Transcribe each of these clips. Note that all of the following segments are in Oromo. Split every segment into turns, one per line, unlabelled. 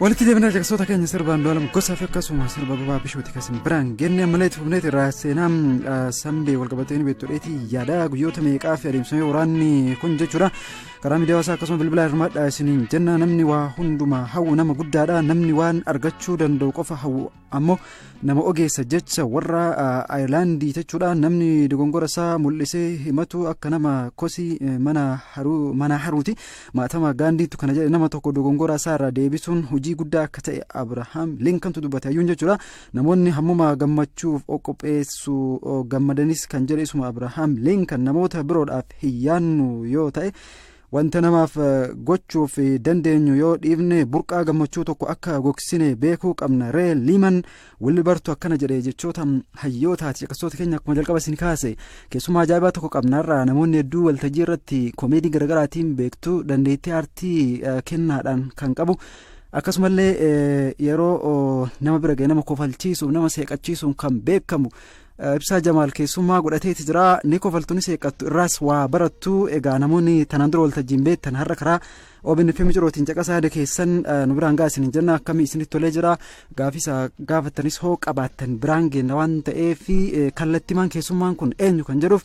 walitti deebinaa caqasoota keenya sirba andu'aalam gosaa fi akkasuma sirba babaa bishooti kasin biraan genne ammallee itti fufneeti irraa seenaa sambee walqabatee ni beektu dheetii yaada guyyoota meeqaa fi adeemsifamee waraanni kun jechuudha karaa miidiyaa hawaasaa akkasuma bilbilaa hirmaadhaa isiniin jenna namni waa hundumaa hawwu nama guddaadha namni waan argachuu danda'u qofa hawwu ammoo nama ogeessa jecha warra ayirlaandii jechuudha namni dogongora isaa mul'isee himatu akka nama kosii mana haruuti maatama gaandiitu kana jedhe nama tokko dogongora isaa irraa deebisuun hojii guddaa akka ta'e abrahaam linkantu dubbate hayyuun jechuudha namoonni hammuma gammachuuf qopheessu gammadanis kan jedhe isuma abrahaam linkan namoota biroodhaaf hin yaannu yoo ta'e. Wanta namaaf gochuuf dandeenyu yoo dhiifne burqaa gammachuu tokko akka gogsine beekuu qabna. Ree Liiman Wilbartu akkana jedhe jechoota hayyootaati. Caqasoota keenya akkuma jalqaba isin kaase keessumaa ajaa'ibaa tokko qabnaarraa namoonni hedduu waltajjii irratti komeedii garaagaraatiin beektu dandeettii aartii kennaadhaan kan qabu. Akkasumallee yeroo nama bira ga'e nama kofalchiisuuf nama seeqachiisuun kan beekamu Ibsaa Jamaal keessummaa godhateeti jira ni kofaltuunis eeqqattu irraas waa barattu egaa namoonni tanaan dura waltajjiin beektan har'a karaa OBN fi Micirootiin caqasaa yaada keessan nu biraan ga'a isiniin jenna akkamii isinitti tolee jira gaafisa gaafattanis hoo qabaattan biraan geenna waan ta'eef kallattimaan keessummaan kun eenyu kan jedhuuf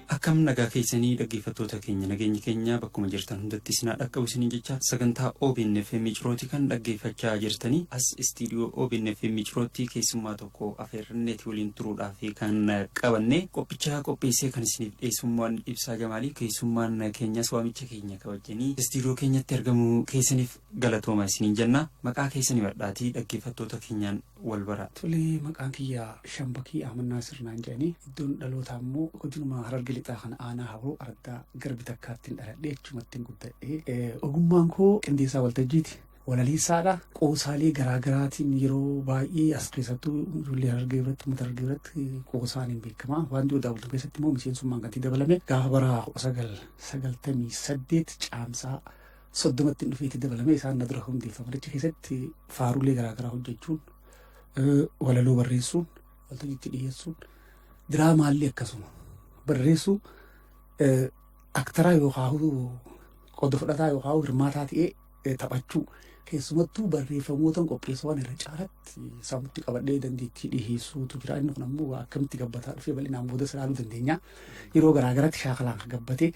Akkam nagaa keessanii dhaggeeffattoota keenya nageenyi keenya bakkuma jirtan hundatti isin haa dhaqqabu isiniin jechaa sagantaa obn FM Cirooti kan dhaggeeffachaa jirtanii as istiidiyoo obn FM Cirootti keessummaa tokko afeerranneeti waliin turuudhaaf kan qabanne qophichaa qopheessee kan isiniif dhiyeessummaan ibsaa jamaalii keessummaan keenyas waamicha keenya kabajanii istiidiyoo keenyatti argamuu keessaniif galatooma isiniin jenna maqaa keessanii badhaatii dhaggeeffattoota keenyaan wal baraa. Tole maqaan kiyya
Shambakii Ahmad Naasir naan jedhanii iddoon dhalootaa immoo godinuma Hararge Lixaa kana aanaa Haboo araddaa Garbi Takkaattiin dhaladhee achumattiin guddadhee ogummaan koo qindeessaa waltajjiiti. Walaleessaadha qoosaalee garaagaraatiin yeroo baay'ee as keessattuu ijoollee Harargee biratti uummata Harargee biratti qoosaan hin beekama. Waanti odaa bultu keessatti immoo miseensummaan kan itti dabalame gaafa bara 1998 caamsaa 30tti hin dhufeetti dabalamee isaan na dura hundeeffaman achi keessatti faaruulee garaagaraa hojjechuun eh, walaloo barreessuun waltajjiitti dhiyeessuun diraamaallee akkasuma barreessuu eh, aktaraa yookaan qooda fudhataa yookaan hirmaataa ta'ee eh, taphachuu keessumattuu barreeffamootan qopheessuwwan irra caalatti sababitti qabadhee dandeettii dhiheessuutu jira inni kun ammoo akkamitti gabbataa dhufee bal'inaan booda siraaluu dandeenya yeroo garaagaratti shaakalaan kan gabbatee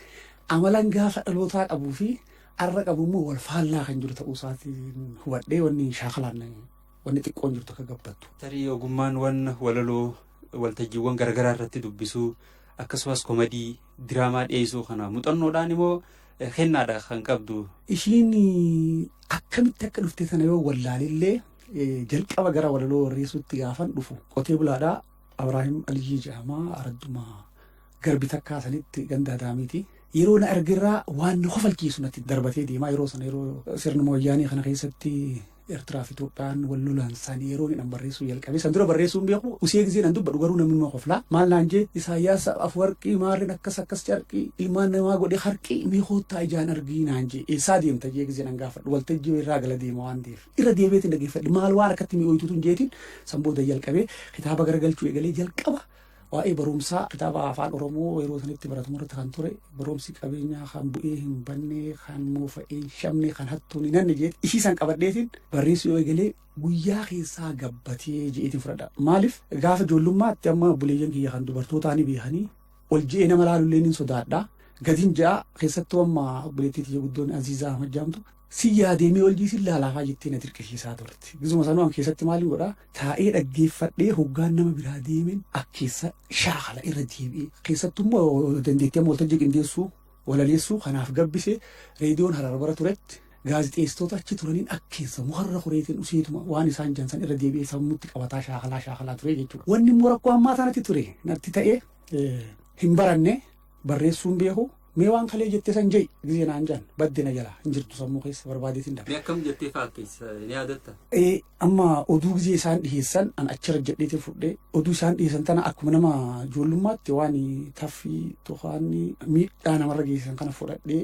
Amalan gaafa dhalootaa qabuu fi arra qabu immoo wal faallaa kan jiru ta'uu isaatiin hubadhee wanni shaakalaan wanni xiqqoon jirtu akka gabbattu. Tarii ogummaan wan
walaloo waltajjiiwwan garaagaraa irratti dubbisuu akkasumas komadii diraamaa dhiyeessuu kana muuxannoodhaan immoo eh, kennaadha kan qabdu. Ishiin
akkamitti akka dhufte sana yoo wallaalillee eh, jalqaba gara walaloo warreessuutti gaafan dhufu qotee bulaadhaa Abraahim Aliyyii jedhama Aradduma Garbi takkaa sanitti ganda Adaamiiti. Yeroo na argerraa waan na kofalchiisu natti darbatee deemaa yeroo sana yeroo sirna mooyyaanii kana keessatti Eertiraa fi Itoophiyaan wal lolan san yeroo inni barreessuu jalqabe san dura barreessuu hin beeku usee gizee nan dubbadhu garuu namni nama koflaa maal naan jee Isaayyaas Afwarqii maarreen akkas akkas carqii ilmaan namaa godhe harqii mee koottaa ijaan argii naan jee eessaa deemta jee gizee nan gaafadhu waltajjii irraa gala deema waan ta'eef irra deebi'eetiin dhaggeeffadhe maal waan akkatti mi'ooytuutu hin jeetiin san booda jalqabee kitaaba garagalchuu eegalee jalqaba Waa'ee barumsaa kitaaba afaan Oromoo yeroo sanitti baratamu irratti kan ture barumsi qabeenyaa kan bu'ee hin banne kan moofa'ee hin shamne kan hattuun hin hanne jeeti ishii san qabadheetiin barreessuu yoo eegalee guyyaa keessaa gabbatee jeetiin fudhadha. Maaliif gaafa ijoollummaatti amma buleeyyan kiyya kan dubartootaa ni beekanii ol je'ee nama laalullee ni sodaadha. Gadin ja'a keessattuu amma obboleettii tiyya guddoon Aziizaa Ahmad jaamtu Sin yaadee mee oljii sin laalaafaa jettee na dirqisiisaa turte. Gizuma sanuu an keessatti maalin godhaa taa'ee dhaggeeffadhee hoggaan nama biraa deemen ak keessa shaakala irra deebi'ee. Keessattuu immoo dandeettii amma waltajjii qindeessuu walaleessuu kanaaf gabbise reediyoon harar bara turetti gaazixeessitoota achi turaniin ak keessa mukarra kureetiin useetuma waan isaan jansan irra deebi'ee sammutti qabataa shaakalaa shaakalaa ture jechuudha. Wanni immoo rakkoo ammaa sanatti ture natti ta'e hin baranne barreessuun beeku. Mee waan kalee jettee san je'i gizee naan jaan badde na jalaa hin jirtu sammuu keessa barbaadeetiin dabe. Mee akkam jettee faakkeessa
ni yaadatta? Ee amma
oduu gizee isaan dhiheessan an achirra jedheetiin fudhee oduu isaan dhiheessan tana akkuma nama ijoollummaatti waan taffii tofaanni miidhaa namarra geessisan kana fudhadhee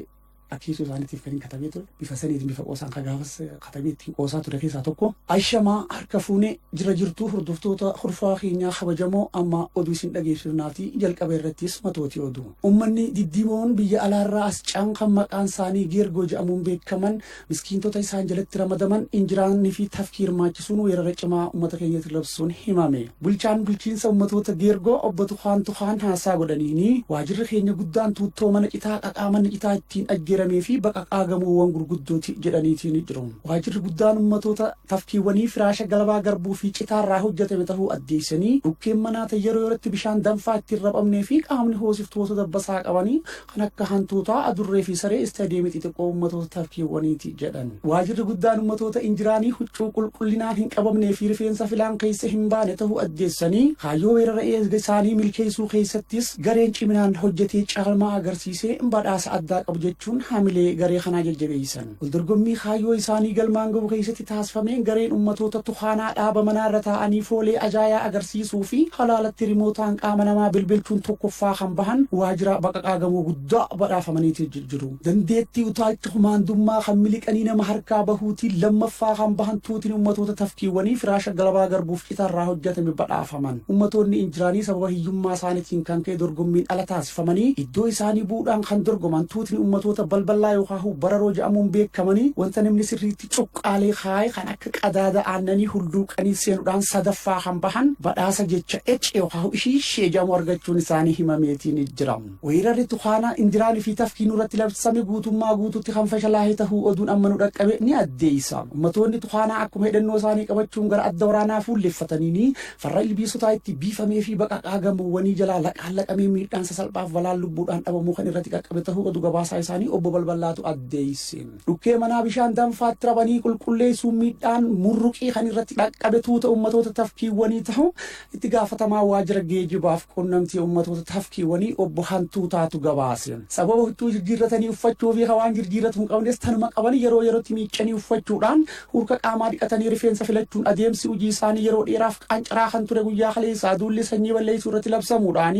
akeesuu isaaniitiif kan hin katabee ture bifa saniitiin bifa qoosaan kan gaafas katabee ittiin qoosaa ture keessaa tokko ashamaa harka fuunee jira jirtuu hordoftoota horfaa keenyaa kabajamoo amma oduu isin dhageessifnaatii jalqaba irrattis matootii oduu. Ummanni diddiimoon biyya alaarraa as ce'an kan maqaan isaanii Geergoo jedhamuun beekaman miskiintota isaan jalatti ramadaman injiraanii fi tafkii hirmaachisuun weerara cimaa ummata keenyatti labsuun himame. Bulchaan bulchiinsa ummatoota Geergoo obbo Tukaan Tukaan haasaa godhaniini waajirri keenya guddaan tuuttoo mana citaa qaqaa manni citaa ittiin ajjeeramee fi baqaqaa gamoowwan gurguddooti jedhaniitiin jiru. Waajirri guddaan ummatoota tafkiiwwanii firaasha galabaa garbuu fi citaa irraa hojjatame tahuu addeessanii, dhukkeen manaa ta yeroo yerootti bishaan danfaa itti hin raphamnee fi qaamni hoosiftoota dabbasaa qabanii kan akka hantuutaa, adurree fi saree istaadiyeemii xixiqqoo ummatoota tafkiiwwaniiti jedhan. Waajirri guddaan ummatoota injiraanii huccuu qulqullinaan hin qabamnee fi rifeensa filaan keessa hin baane tahuu addeessanii, kaayyoo weerara eezga isaanii milkeessuu keessattis gareen ciminaan hojjatee caalmaa agarsiisee badhaasa addaa qaba jechuun hamilee garee kanaa jajjabeessan. Waldorgommii kaayyoo isaanii galmaan gahu keessatti taasifameen gareen ummatoota Tukaanaa dhaaba manaa irra taa'anii foolee ajaayaa agarsiisuu fi halaalatti rimootaan qaama namaa bilbilchuun tokkoffaa kan bahan waajira baqaqaa gamoo guddaa badhaafamaniiti ji- jiru. Dandeettii utaalcha kumaandummaa kan miliqanii nama harkaa bahuutiin lammaffaa kan bahan tuutiin ummatoota tafkiiwwanii firaasha galabaa garbuuf cita irraa hojjetame badhaafaman. Ummatoonni injiraanii sababa hiyyummaa isaanitiin kan ka'e dorgommiin ala taasifamanii iddoo isaanii bu'uudhaan kan dorgoman tuutni ummatoota balballaa yookaahu bararoo ja'amuun beekamanii wanta namni sirriitti cuqqaalee kaa'e kan akka qadaada aannanii hulluuqanii seenudhaan sadaffaa kan bahan badhaasa jecha ece yookaahu ishii shee ja'amu argachuun isaanii himameetiin jira. Weerarri tukaanaa injiraanii fi tafkii nurratti labsame guutummaa guututti kan fashalaahe tahuu oduun amma nu dhaqqabe ni addeeysa. Ummatoonni tukaanaa akkuma hidhannoo isaanii qabachuun gara adda waraanaa fuulleffataniinii Farra ilbiisotaa itti biifamee fi baqaqaa gamoowwanii jalaa laqaan laqamee miidhaan sasalphaa fi balaan lubbuudhaan dhabamuu kan irratti qaqqabe tahuu odu gabaasaa isaanii Obbo Balballaatu addeesse. Dhukkee manaa bishaan danfaatti rabanii qulqulleessuun miidhaan murruqii kan irratti qaqqabe tuuta ummatoota tafkiiwwanii tahuu itti gaafatamaa waajjira geejibaa fi quunnamtii ummatoota tafkiiwwanii Obbo Hantuutaatu gabaase. Sababa huccuu jirjiirratanii uffachuu fi ka waan jirjiirratu hin qabnes tanuma qabanii yeroo yerootti miiccanii uffachuudhaan Hurka qaamaa dhiqatanii rifeensa filachuun adeemsi hojii isaanii yeroo dheeraaf qaancaraa kan ture guyyaa kaleessaa duulli sanyii balleessuu irratti labsamuudhaan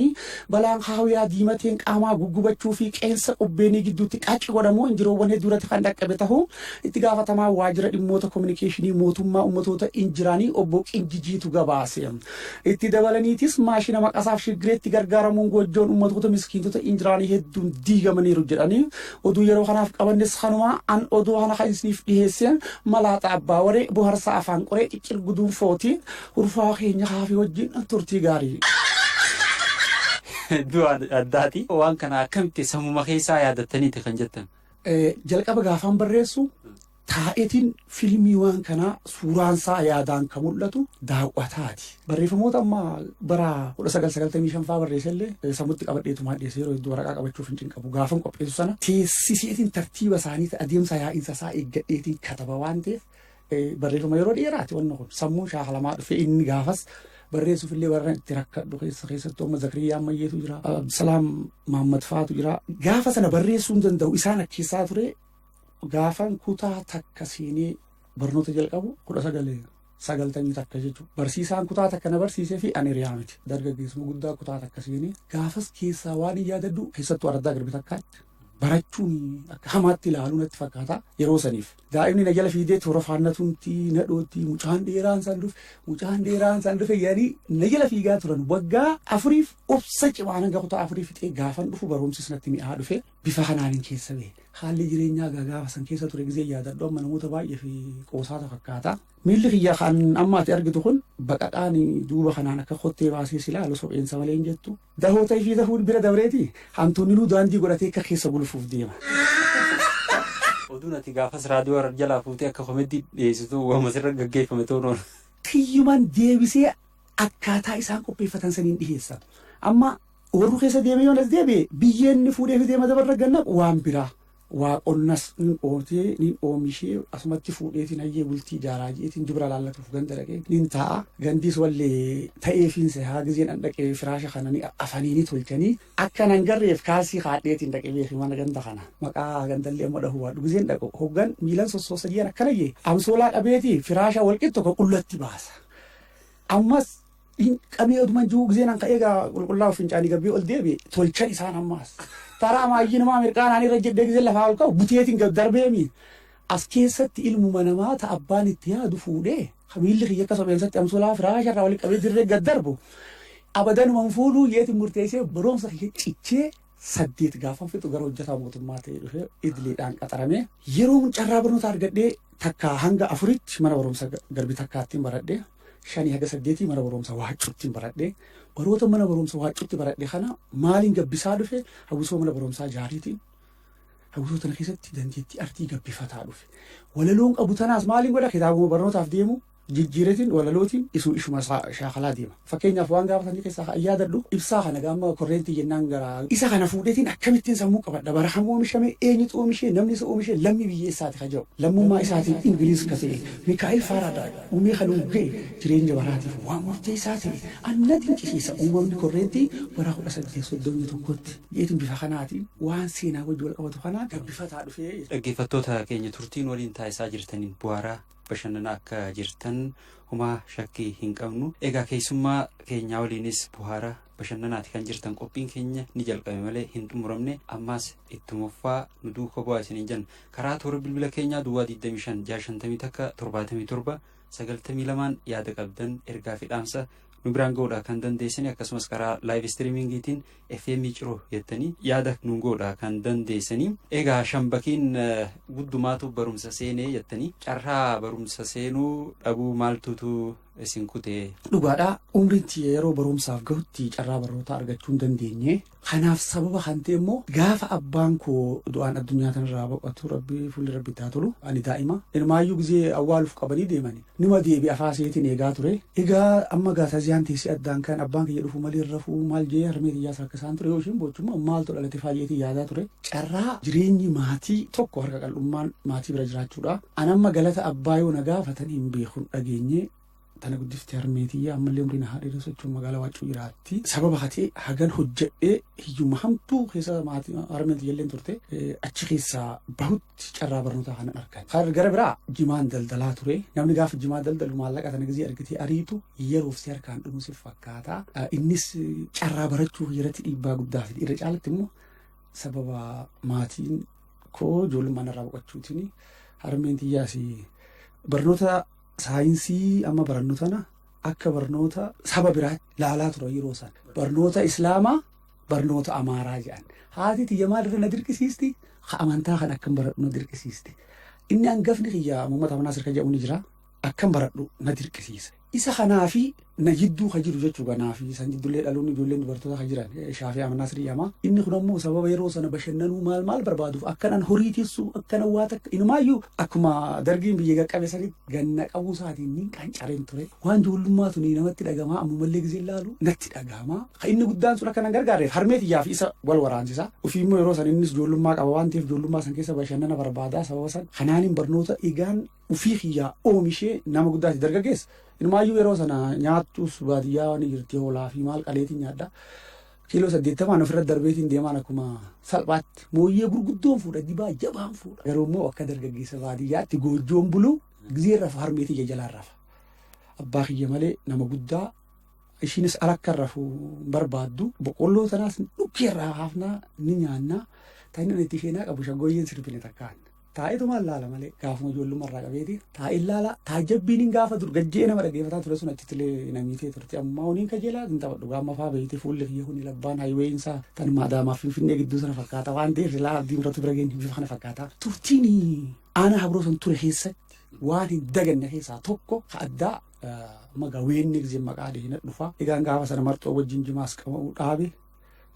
balaan haawiyaa diimateen qaamaa guggubachuu fi qeensa qubbeenii gidduutti qacci godhamu injiroowwan hedduu irratti kan dhaqqabe tahuu itti gaafatamaa waajjira dhimmoota kominikeeshinii mootummaa ummatoota injiraanii obbo Qinjijiitu gabaase. Itti dabalaniitis maashina maqasaaf shiggireetti gargaaramuun goojjoon ummatoota miskiintota injiraanii hedduun diigamaniiru jedhanii Oduu yeroo kanaaf qabannes kanumaa an oduu kana kan isiniif dhiheessee malaaxa abbaa waree boharsaa afaan qoree ciccir guduunfooti hurfaa keenya kaafii wajjin turtii gaarii.
Hedduu addaati. Waan kana akkamitti sammuma keessaa yaadattaniiti kan jettan? Jalqaba
gaafaan barreessu Taa'eetiin filmii waan kanaa suuraan isaa yaadaan ka mul'atu daaw'ataati. Barreeffamoota amma bara 1995 faa barreesse illee sammutti qabadheetu maa dhiyeesse yeroo hedduu waraqaa qabachuuf hin cinqabu. Gaafan qopheessu sana teessiseetiin tartiiba isaanii adeemsa yaa'insa isaa eeggadheetiin kataba waan ta'eef barreeffama yeroo dheeraati wanna kun sammuun shaakalamaa dhufe inni gaafas barreessuuf illee warra itti rakkadhu keessa keessattuu amma Zakiriyyaa Ammayyeetu jira. Abdusalaam Mahammad faatu jira. Gaafa sana barreessuu hin danda'u isaan akkeessaa ture Gaafan kutaa takka siinii barnoota jalqabu 1991 jechuudha. Barsiisaan kutaa takka na barsiisee fi ani riyaa miti. Dargaggeessuma guddaa kutaa takka siinii gaafas keessaa waan hin yaadadhu keessattuu araddaa garbi takkaatti barachuun akka hamaatti ilaaluu natti fakkaata yeroo saniif. Daa'imni na jala fiidee toora faannatumti na dhootti mucaan dheeraan san dhufe mucaan dheeraan san dhufe yaanii na jala fiigaa turan waggaa afuriif obsa cimaan hanga kutaa afurii fixee gaafan dhufu barumsis natti mi'aa dhufe. bifa kanaanin keessa bahe. Haalli jireenyaa gaa gaafa san keessa ture gizee yaadadhu amma namoota baay'ee fi qoosaata fakkaata. Miilli kiyya kan amma ati argitu kun baqaqaan duuba kanaan akka kottee baasee si laalu sopheensa malee hin jettu. Dahoo ta'ee fi dahuun bira dabreeti hantuunninuu daandii godhatee akka keessa gulufuuf deema.
Oduun ati gaafas raadiyoo irra jalaa fuutee akka komeddii dhiyeessitu waan asirra gaggeeffame ta'uu noona. Kiyyumaan
deebisee akkaataa isaan qopheeffatan saniin dhiheessa. Amma Oorru keessa deeme yoon as deebi'e biyyee inni fuudhee fidee madaba irra gad naqu waan biraa. Waa qonnas nin qootee, nin oomishee asumatti fuudheetiin hayyee bultii ijaaraa je'eetiin dubra laallatuuf ganda dhaqee nin taa'a. Gandiis walle ta'eefiin sehaa gizeen an dhaqe firaasha kana ni afanii ni tolchanii. Akka nan garreef kaalsii kaadheetiin dhaqe beeki mana ganda kana. Maqaa gandallee amma dhahuu baadhu gizeen dhaqu hoggan miilan sossoosa je'an akkana je'e amsoolaa qabeetii firaasha wal qixxu ka qullatti baasa. Ammas. Hin qabee oduman ji'uu gizee nan ka'ee gaa qulqullaa'u fincaanii gabbii ol deebi'e tolchan isaan ammaas. Taraa maayyinumaa mirqaanaan irra jedhee gizee lafaa ol ka'u buteetiin gad darbeemi. As keessatti ilmuma namaa ta abbaan itti yaadu fuudhee hamiilli kiyya akka sobeensatti amsulaa firaasha irraa walitti qabee dirree gad darbu abadanuma hin fuudhuu yeetiin murteessee baroomsa kiyya cichee saddeet gaafan fixu gara hojjetaa mootummaa ta'ee dhufee idiliidhaan qaxaramee yeroon carraa barnootaa argadhee takkaa hanga afuritti mana barumsa garbi takkaattiin baradhee shanii haga saddeetii mana barumsa waaccuuttiin baradhee baroota mana barumsa waaccuutti baradhe kana maaliin gabbisaa dhufe hawwisoo mana barumsaa jaariitiin hawwisoo tana keessatti dandeettii artii gabbifataa dhufe walaloon qabu tanaas maaliin godha kitaabuma barnootaaf deemu jijjiireetiin walalootiin isuu ishuma isaa shaakalaa deema. Fakkeenyaaf waan gaafa sanii keessaa ka'an yaadadhu ibsaa kana gaamma korreentii jennaan gara isa kana fuudheetiin akkamittiin sammuu qabadha bara kam oomishame eenyutu oomishee namni isa oomishee lammii biyya eessaati ka jedhu lammummaa isaatiin Ingiliiz ka ta'e Mikaa'el Faaraadaay uumee kan ugga'e jireenya baraatiif waan murteessaa ta'e an na dinqisiisa uumamni korreentii bara 1831tti jeetiin bifa kanaatiin waan seenaa wajji wal qabatu kanaan gabbifataa dhufee jechuudha. Dhaggeeffattoota keenya
turtii nu waliin taasisaa jirtaniin bu'aaraa. bashannana akka jirtan humaa shakkii hin qabnu egaa keessummaa keenyaa waliinis buhaara bashannanaati kan jirtan qophiin keenya ni jalqabe malee hin xumuramne ammaas ittumuffaa nu duuka bu'aa isiniin jenna karaa toora bilbila keenyaa duwwaa 25 650 takka 77 92 yaada qabdan ergaa fi dhaamsa nu biraan ga'uudhaa kan dandeessani akkasumas karaa laayiv istiriimingiitiin fm ciroo jettanii yaada nu goodha kan dandeessanii egaa shambakiin guddumaatu barumsa seenee jettanii carraa barumsa seenuu dhabuu maaltuutu isin kutee. Dhugaadhaa umriin
tiyya yeroo barumsaaf gahutti carraa barnootaa argachuu hin dandeenye. Kanaaf sababa kan ta'e immoo gaafa abbaan koo du'aan addunyaa tanarraa boqotu rabbi fuulli rabbi itti haa tolu ani daa'ima. Ilmaayyuu gizee awwaaluuf qabanii deemani. Numa deebi afaa seetin eegaa ture. Egaa amma gaa taziyaan teessee addaan kan abbaan kiyya dhufu malee hin rafuu maal je'ee harmee tiyyaas rakkisaan ture yoo isheen boochu immoo maaltu dhalate faa je'eetiin yaadaa ture. Carraa jireenyi maatii tokko harka qal'ummaan maatii bira jiraachuudha. An amma galata abbaa yoo na gaafatan hin beeku hin dhageenye. Tana guddifte harmee tiyya ammallee umrii na haa dheeressu jechuun magaalaa waaccuu jiraatti. Sababa hatee hagan hojjedhee hiyyumma hamtuu keessa maatii harmeen tiyyalleen turte achi keessaa bahutti. tti carraa barnootaa kanan argadhe. Kan gara biraa jimaan daldalaa ture. Namni gaafa jimaa daldalu maallaqa sana gizii argitee ariitu yeroof si harkaan dhumu si fakkaata. Ah, Innis carraa barachuu irratti dhiibbaa guddaa fide. Irra caalatti immoo sababa maatiin koo ijoollummaan irraa boqachuutiin harmeen tiyyaas barnoota saayinsii amma barannu tana akka barnoota saba biraatti laalaa ture yeroo sana. Barnoota Islaamaa barnoota amaaraa jedhan haati tiyya maal irra na dirqisiisti ha amantaa kan akkan baradhu na dirqisiisti inni hangafni kiyya Muhammad Amanaa Sirka jedhamu ni jira akkan baradhu na dirqisiisa isa kanaa fi na jidduu ka jiru jechuu kanaa fi san jiddullee dhaloonni ijoolleen dubartoota ka jiran eh, shaafii amanaa sirii yamaa inni kun ammoo sababa yeroo sana bashannanuu maal maal barbaaduuf akkanan horii tissuu akkanan waa takka inumaayyuu akkuma dargiin biyya qaqqabe sanitti Ganna qabuu isaatiin niin qancareen ture. Waan joollummaa tuni namatti dhagamaa ammumallee gizee laalu natti dhagama. Kan inni guddaan sun akka nan gargaarreef harmee tiyyaa fi isa wal waraansisa. Ofii immoo yeroo san innis joollummaa qaba waan ta'eef joollummaa san keessa bashannana barbaada sababa san. Kanaanin barnoota dhiigaan ofii kiyyaa oomishee nama guddaati dargaggeessa. Inumaayyuu yeroo sana nyaattus baadiyyaa waan jirti hoolaa fi maal qaleetiin nyaadha. Kiiloo saddeettamaan ofirra darbeetiin deemaan akkuma salphaatti mooyyee gurguddoon fuudha dibaa jabaan fuudha. Garuu immoo akka dargaggeessa baadiyyaatti goojjoon buluu gizee rafa harmeetii ija jalaan rafa. Abbaa kiyya malee nama guddaa ishiinis ala akka rafu hin barbaaddu. Boqqolloo tanaas dhukkee irraa haafnaa ni nyaannaa. Kan inni itti isheenaa qabu shaggooyyeen sirfine takkaan. Taa'eetumaan laala malee gaafuma ijoollummaa irraa qabeeti taa'een laala taajjabbiin gaafa dur gajjee nama dhaggeeffataa ture sun achittillee na miitee turte ammaa honiin kajeelaa hin taphadhu gaamma faa beeyte fuulli kiyya huni labbaan hayiweeyin isaa tan maadaamaaf finfinnee gidduu sana fakkaata waan ta'eef silaa abdii muratu bira geenye bifa kana fakkaata turtiin aanaa habroo san ture keessatti waan hin daganne keessaa tokko ka addaa magaa weenni gizee maqaa deena dhufa egaan gaafa sana marxoo wajjin jimaas qabamuu dhaabe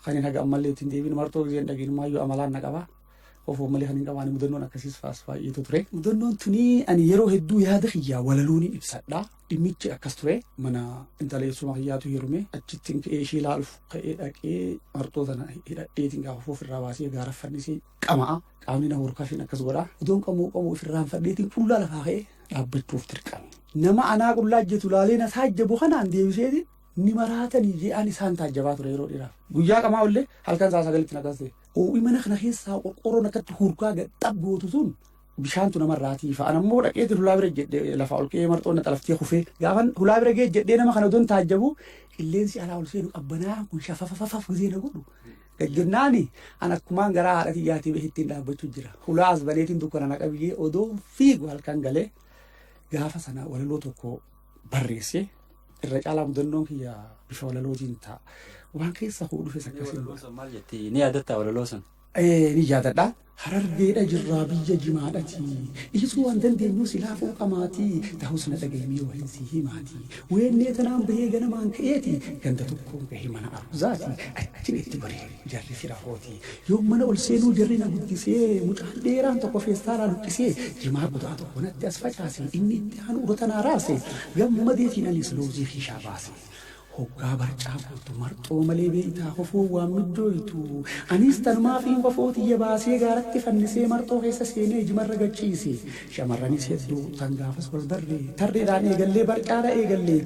kan hin haga ammallee ittiin deebiin marxoo gizeen dhagiin maayyoo amalaan na qaba Ofoo malee kan hin qabaane mudannoon akkasiis faas baay'eetu ture. Mudannoon tuni ani yeroo hedduu yaada kiyyaa walaloo ni ibsadha. Dhimmichi akkas ture mana intala eessuma kiyyaatu heerume achitti ka'ee ishee ilaaluuf ka'ee dhaqee marxoo sana hidhadheetiin gaafa foof irraa baasee gaara fannisee qama'a. Qaamni na horkafiin akkas godha. Idoon qamoo qamoo ofirraan fadheetiin qullaa lafaa ka'ee dhaabbachuuf dirqame. Nama anaa qullaa hojjetu laalee na taajjabu kanaan deebiseetiin ni maraatanii jedhaan isaan taajjabaa ture yeroo dheeraaf. Guyyaa qamaa ollee halkan isaa sagalitti na kaasee Hoo'i mana kana keessaa qorqoorroon akkatti hurkaa gad xab gootu sun bishaantu namarraa tiifa. An ammoo dhaqee hulaa bira jedhe lafaa ol ka'ee marxoon na xalaftee kufee. Gaafan hulaa bira ga'e jedhee nama kana odoon taajjabu qilleensi alaa ol seenu qabbanaa kun shafafafafaf gizee na godhu. Gajjennaani an akkumaan garaa haadha tiyyaatii bahittiin dhaabbachuu jira. Hulaa as baneetiin dukkana na qabiyyee odoo fiigu halkan galee gaafa sana walaloo tokko barreesse irra caalaa mudannoon kiyya bifa walalootiin ta'a. Waan keessa koo dhufes akkasiin. Maal jettee ni
yaadattaa walaloo sana? Eh, ni yaadadha.
Harargeedha jirraa biyya jimaadhati. Dhiisuu waan dandeenyu silaa fooqamaati. Ta'us na dhagayimee waa hin sii himaati. Weennee tanaan bahee ganamaan ka'eeti. Ganda tokkoon gahe mana arzaati. Achin itti goree. Jarri fira kooti. Yoon mana ol seenuu jarri na guddisee mucaan dheeraan tokko feestaalaa luqqisee jimaa kutaa tokko natti as facaase, inni itti aanu urota naa raase. Gammadeetiin anis loozii kiishaa baase. Hoggaa barcaa guurtu marxoo malee beeytaa kofoon waan middooytu. Anis tanumaafiin kofoo tiyya baasee gaaratti fannisee marxoo keessa seenee jimarra gad ciise. Shamarranis hedduu tan gaafas wal barre. Tarreedhaan eegallee barcaadha eegalle.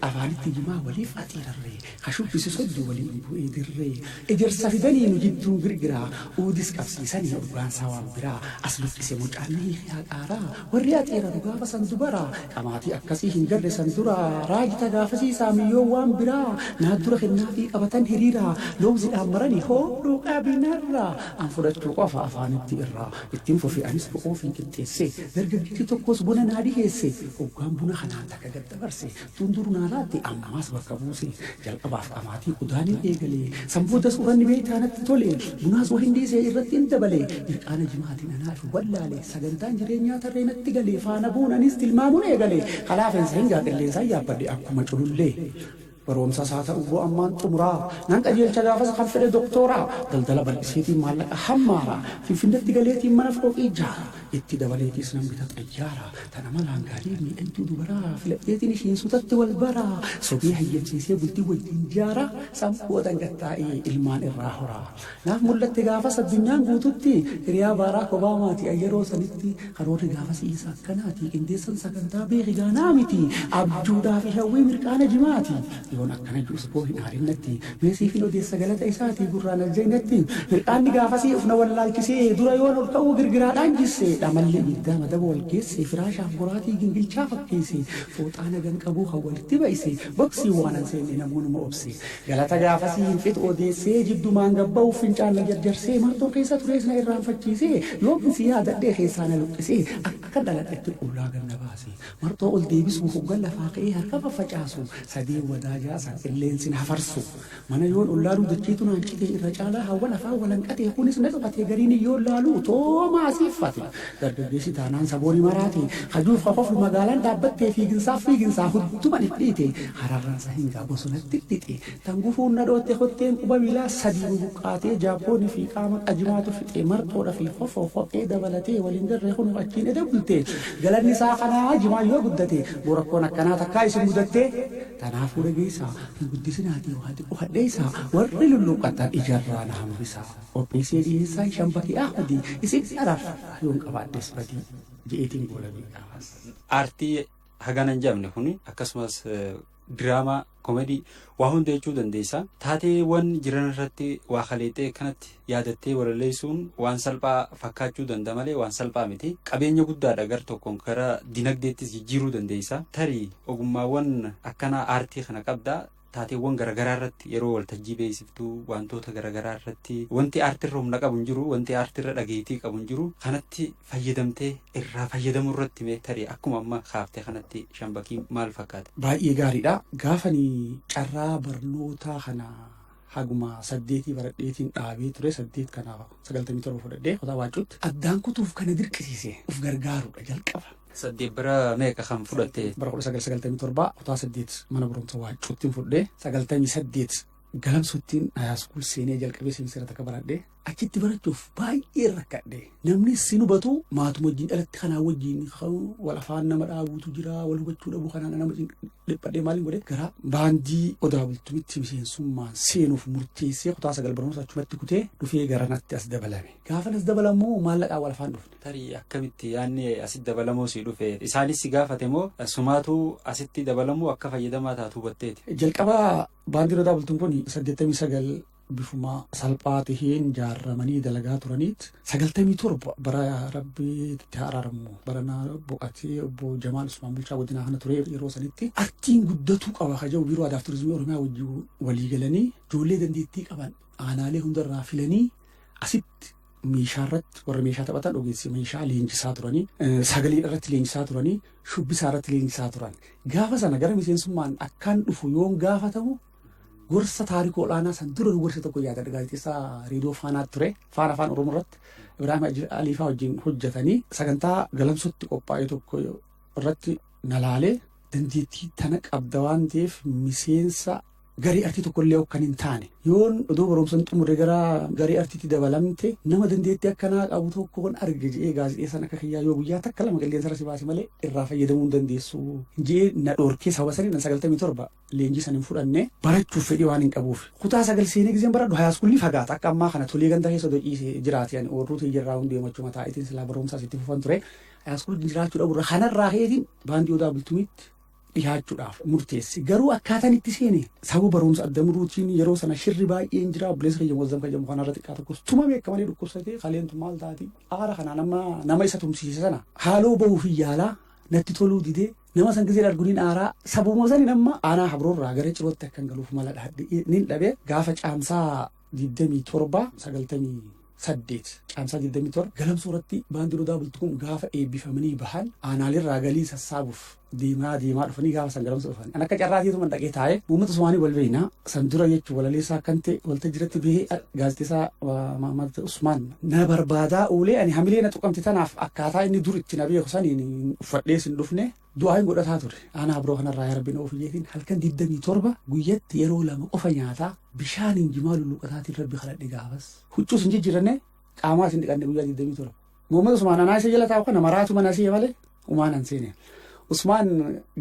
Afaanitti jimaa waliif axiirarre. Ha shubbisi soddu wali bu'e dirree Ejersa fidani nu jiddun girgiraa Uudis qabsiisani urgaan isaa waan biraa As luqqise mucaan ni hiike haqaaraa Warri axeeraru gaafa san dubaraa Qamaatii akkasii hin garre san duraa Raajita gaafasii saamiyyoon waan biraa Naaddura kennaafii qabatan hiriiraa Lowzidhaan marani hoo dhuuqaabii narraa An fudhachuu qofa afaanitti irraa Ittin fufe anis bo'oofiin qixxeesse Dargaggichi tokkos buna naa dhiheesse Hoggaan buna kanaan takka gad dabarse Cundur naa laatte ammaas bakka buuse. Jalqabaaf dhamaatii udaanin eegale. San boodas uranni beeytaa natti tole. Bunaas wahin dhiise irrattin dabale. Mirqaana jimaatin anaafi wallaale. Sagantaan jireenyaa tarree natti gale. Faana buun anis tilmaamun eegale. Ka laafensa hin gaa qilleensaan yaabbadhe akkuma culullee. Baroomsas haa ta'u boo ammaan xumuraa. Nan qajeelcha gaafas kan fedhe doktooraa. Daldala bal'iseetiin maallaqa hammaara. Finfinnetti galeetiin mana fooqii jaara. Itti dabaleetiis nan bita xayyaara, tan amalaan gaarii miidhagduu dubaraa, filadheetiin ishiin sutatti wal bara, sobee hayyamsiisee bultii wajjiin jaara, san boodan gad taa'ee ilmaan irraa hora. Naaf mul'atte gaafas addunyaan guututti, hiriyaa Baaraak Obaamaati an yeroo sanitti, karoorri gaafasii isa akkanaati, qindeessan sagantaa beeki gaanaa miti, abjuudhaafi hawwii mirqaana jimaati, yoon akkana ju'us boo hin aarin natti, Mee siifin odeessa galata isaatii gurraan aljaynetti Hir'aanni gaafasii uf na wallaalchisee Dura yoon ol ka'uu girgiraadhaan jisse Dhamalli ibiddaa madaba wal geesse Firaashaaf boraatii gingilchaa fakkeesse Fooxaa nagan qabuu kan walitti bay'ise Boksii waanan seenne namoonuma obse Galata gaafasii hin fixu odeessee Jiddumaan gad ba'uuf fincaan na jarjarsee Marxoon keessa turees na irraanfachiisee Yoomin si yaadadhee keessaa na luqqisee Akkan dhaladhetti qullaa gad na baasee Marxoo ol deebisuu hoggan lafaa ka'ee harka faffacaasu sadeen wadaa jaasan qilleensi na hafarsu. Mana yoon ol laaluu dacheetu naan cite irra caalaa haawwan afaan wal hanqate kunis na dhokate gariin yoon laaluu toomaa asiiffate. Dargaggeessi taanaan sabooni maraate kajuuf ka koflu magaalaan dhaabbatte fiiginsaaf fiiginsaa hudduman iddhiite hararransa hingaa bosonatti iddhixe. Tan gufuun na dhootte kotteen quba miilaa sadii bubuqqaatee jaabbooni fi qaama qajimaatu fixee marxoodha fi kofoo kophee dabalatee wal hin garree kunoo achiin eda bulte. Galanni isaa kanaa jimaan yoo guddate boo rakkoon akkanaa takkaa isin mudattee? Tanaa fuudha geessaa hin guddisinaatii waa xiqqo hadheessaa warri lulluuqqattan ijarraa na hambisaa. Qopheessee dhiheessaan Shambakee Ahmadi isin araarfadha yoon qabaadhes badii. je'eetiin goolabee gaafas. Aartii
hagana hin jedhamne kuni akkasumas diraamaa. Comedy waa hunda jechuu dandeessa. Taateewwan jiran irratti waa kaleexxee akkanatti yaadattee walaleessuun waan salphaa fakkaachuu danda'a malee waan salphaa miti. Qabeenya guddaadha gar tokkoon gara dinagdeettis jijjiiruu dandeessa. Tarii ogummaawwan akkanaa aartii kana qabda. Taateewwan garagaraa irratti yeroo waltajjii beeksiftu wantoota garagaraa irratti wanti aartiirra humna qabu hin jiru, wanti aartiirra dhageettii qabu hin jiru. Kanatti fayyadamtee irraa fayyadamuu irratti mee tarii akkuma amma kaaftee kanatti shambakiin maal fakkaata? Baay'ee gaariidha.
Gaafani carraa barnootaa kana haguma saddeetii baradheetiin dhaabee ture saddeet kana sagaltamii torba fudhadhee kutaa baacuutti addaan kutuuf kana dirqisiise of gargaaruudha jalqaba. Saddeet bara
meeqa kan fudhatte? Bara kudha sagal sagaltamii
torbaa kutaa saddeet mana barumsa waacuuttiin fudhee sagaltamii saddeet galamsuttiin haayaskuul seenee jalqabee seensiira takka baradhee achitti barachuuf baay'ee rakkadhe namni sin hubatu maatuma wajjin dhalatti kanaa wajjin wal afaan nama dhaabuutu jira wal hubachuu dhabuu kanaan nama dhiphadhee maaliin godhe gara baandii odaa bultumitti miseensummaan seenuuf murteessee kutaa sagal barnoota achumatti kutee dhufee gara natti as dabalame gaafa nas dabalamu maallaqaa wal afaan dhufne. Tarii akkamitti
yaanni asitti dabalamuu si dhufe isaanis si gaafate moo sumaatu asitti dabalamuu akka fayyadamaa taatu hubatteeti. Jalqaba
baandii odaa bultum kun saddeettamii sagal bifuma salphaa taheen jaarramanii dalagaa turaniit sagaltamii torba bara rabbii itti haaraaramu barana boqatee obbo Jamaal Usmaan Bulchaa godinaa kana ture yeroo sanitti artiin guddatuu qaba kaja'u biiroo aadaa fi turizimii Oromiyaa wajjin walii galanii ijoollee dandeettii qaban aanaalee hundarraa filanii asitti meeshaa irratti warra meeshaa taphatan ogeessi meeshaa leenjisaa turanii sagalee irratti leenjisaa turanii shubbisaa irratti leenjisaa turan gaafa sana gara miseensummaan akkaan dhufu yoon gaafatamu Gorsa taarikuu ol'aanaa san dura gorsa tokko yaadadha gaazexeessaa reediyoo faanaa ture faana afaan oromoo irratti Ibraahim Haji Aliifaa wajjin hojjetanii sagantaa galamsutti qophaa'e tokko irratti nalaalee dandeettii tana qabda waan ta'eef miseensa garii artii tokkollee kan hin taane yoon odoo barumsan xumure gara garii artiitti dabalamte nama dandeettii akkanaa qabu tokkoon arge je'ee gaazexeessaan akka kiyyaa yoo guyyaa takka lama qilleensa irra si baase malee irraa fayyadamuu hin dandeessu je'ee na dhoorkee sababa sanii nan sagaltamii torba leenjii san hin fudhanne. Barachuuf fedhii waan hin qabuuf. Kutaa sagal seenee gizeen baradhu hayaaskuulli fagaata. Akka ammaa kana tolee ganda keessa odoo ciise jiraate ani oorruu tiyya irraa hundee machuma taa'itiin silaa barumsaas itti fufan ture. Hayaaskuulli jiraachuu dhabu irraa kanarraa keetiin baandii odaa bultumiitti dhihaachuudhaaf murteesse. Garuu akkaataan itti seene sababa barumsa adda muruutiin yeroo sana shirri baay'een jira. Obboleessa kiyya Muazzam kan jedhamu kanarra xiqqaa tokkos tuma beeka malee dhukkubsatee kaleentu maal taati. Aara kanaan amma nama isa tumsiise sana haaloo bahuuf hin yaalaa natti toluu didee Nama san gizeen argu nin aaraa. Sabuma sanin amma aanaa Habroorraa gara Cirootti akkan galuuf mala dhahadhe nin dhabe. Gaafa Caamsaa 27, 98, Caamsaa 27 Galamsoo irratti Baandii Odaa Bultuun gaafa eebbifamanii bahan aanaaleerraa galii sassaabuuf deemaa deemaa dhufanii gaafa san Galamsoo dhufan. An akka carraatiituman dhaqee taa'e. Uummata Somaanii wal beekna. San dura jechuun walaleessaa kan ta'e waltajjiratti bihee gaazexeessaa Mahammad Usmaan na barbaadaa oolee ani hamilee na tuqamte tanaaf akkaataa inni dur itti na beeku saniin uffadhee sin dhufne du'aayin godhataa ture. Aanaa biroo kanarraa yaa rabbi na ofi jeetiin halkan 27 guyyatti yeroo lama qofa nyaataa bishaaniin jimaa lulluqataatiin rabbi kadhadhe gaafas. Huccuus hin jijjiiranne qaamaas hin dhiqanne guyyaa 27. Muhammad Usmaan anaa isa jala taa'u kana maraatu mana si'e malee umaan an seene. Usmaan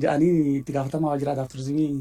ja'anii itti gaafatamaa waajjira aadaa turizimii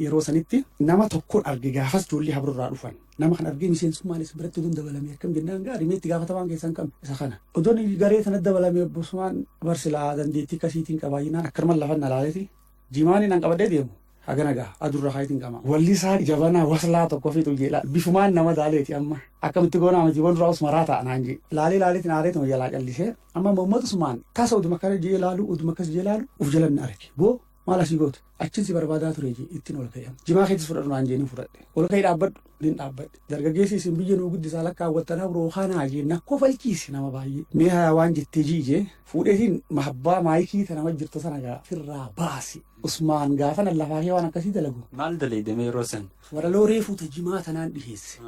Yeroo sanitti nama tokkoon arge gaafas ijoollee habro irraa dhufan. Nama kan argee miseensummaan isa biratti odoon dabalame akkam jennaan gaarii meetti gaafatamaan keessan kam isa kana. Odoon garee sana dabalame obbosumaan barsilaa dandeettii akkasiitiin qabaayyinaan akkanumaan lafan na laaleeti. Jimaanii nan qabadee deemu. Hagana gaa adurra kaayitiin qama. Wallisaa jabanaa waslaa tokko fi xuyyeedha. Bifumaan nama daaleeti amma. Akkamitti goonaa miti waan duraa usmaraa ta'a naan jee. Laalee laaleetiin aareetuma jalaa callisee. Amma Muhammad Usmaan tasa oduma kana jee laalu oduma akkas jee laalu of jalan na arge. Boo Maal asii gootu? Achin si barbaadaa ture jee ittiin ol ka'e. Jimaa keetis fudhadhu naan jee nin fudhadhe. Ol ka'e dhaabbadhu nin dhaabbadhe. Dargaggeessi isin biyya nuu guddisaa lakkaawwattanaa biroo kanaa jee na kofalchiise nama baay'ee. Mee hayaa waan jettee jii jee fuudheetiin mahabbaa maayikii ta nama jirtu sana gaa firraa baasi. Usmaan gaafa nan lafaa kee waan akkasii dalagu. Maal dalayde mee yeroo
san? Walaloo reefuu ta
jimaa tanaan dhiheesse.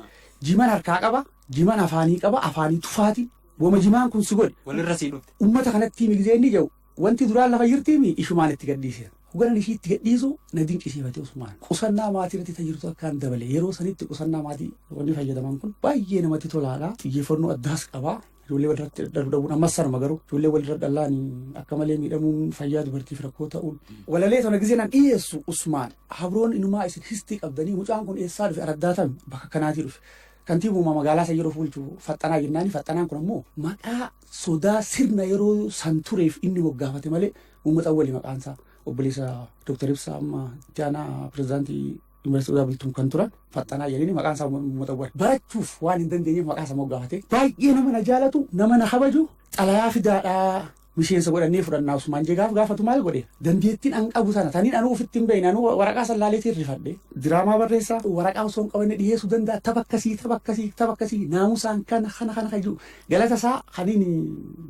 Jiman harkaa qaba, jiman afaanii qaba, afaanii tufaati. Wama jimaan kun si godhe. Walirra sii dhufte. Ummata
kanatti himi gizee inni
jedhu Wanti duraan lafa jirtiimi ishumaan itti gadhiiseera. Hoganan ishii itti gadhiisu na dinqisiifate Usmaan. Qusannaa maatii irratti ta jirtu akkaan dabale. Yeroo sanitti qusannaa maatii wanni fayyadaman kun baay'ee namatti tolaadha. Xiyyeeffannoo addaas qaba. Ijoollee walirratti dhadhalu dhabuun ammas sanuma garuu ijoollee walirra dhallaan akka malee miidhamuun fayyaa dubartiif rakkoo ta'uun. Walalee tana gisee nan dhiyeessu Usmaan. Habroon inumaa isin histii qabdanii mucaan kun eessaa dhufe araddaatame bakka kanaatii dhufe. Kantiibuma magaalaa san yeroo fuulchu faxxanaa jennaani faxxanaan kun ammoo maqaa sodaa sirna yeroo san tureef inni moggaafate malee Muhammad Awwali maqaan isaa obboleessa Dr. Ibsaa amma itti aanaa pirezidaantii Yuunivarsiitii Odaa Bultum kan turan Faxxanaa jedhanii maqaan isaa Muhammad Awwal barachuuf waan hin dandeenyeef maqaa isaa moggaafate baay'ee nama na jaalatu nama na kabaju xalayaa fidaadhaa miseensa godhannee fudhannaa Usmaan Jegaaf gaafatu maal godhe dandeettiin an qabu sana taniin anuu ofitti hin beekne anuu waraqaa san laaleetiin rifadhe diraamaa barreessaa waraqaa osoo hin qabanne dhiyeessuu danda'a tapha akkasii tapha akkasii tapha akkasii naamusaan kana kana kana kan jiru Galata isaa kanini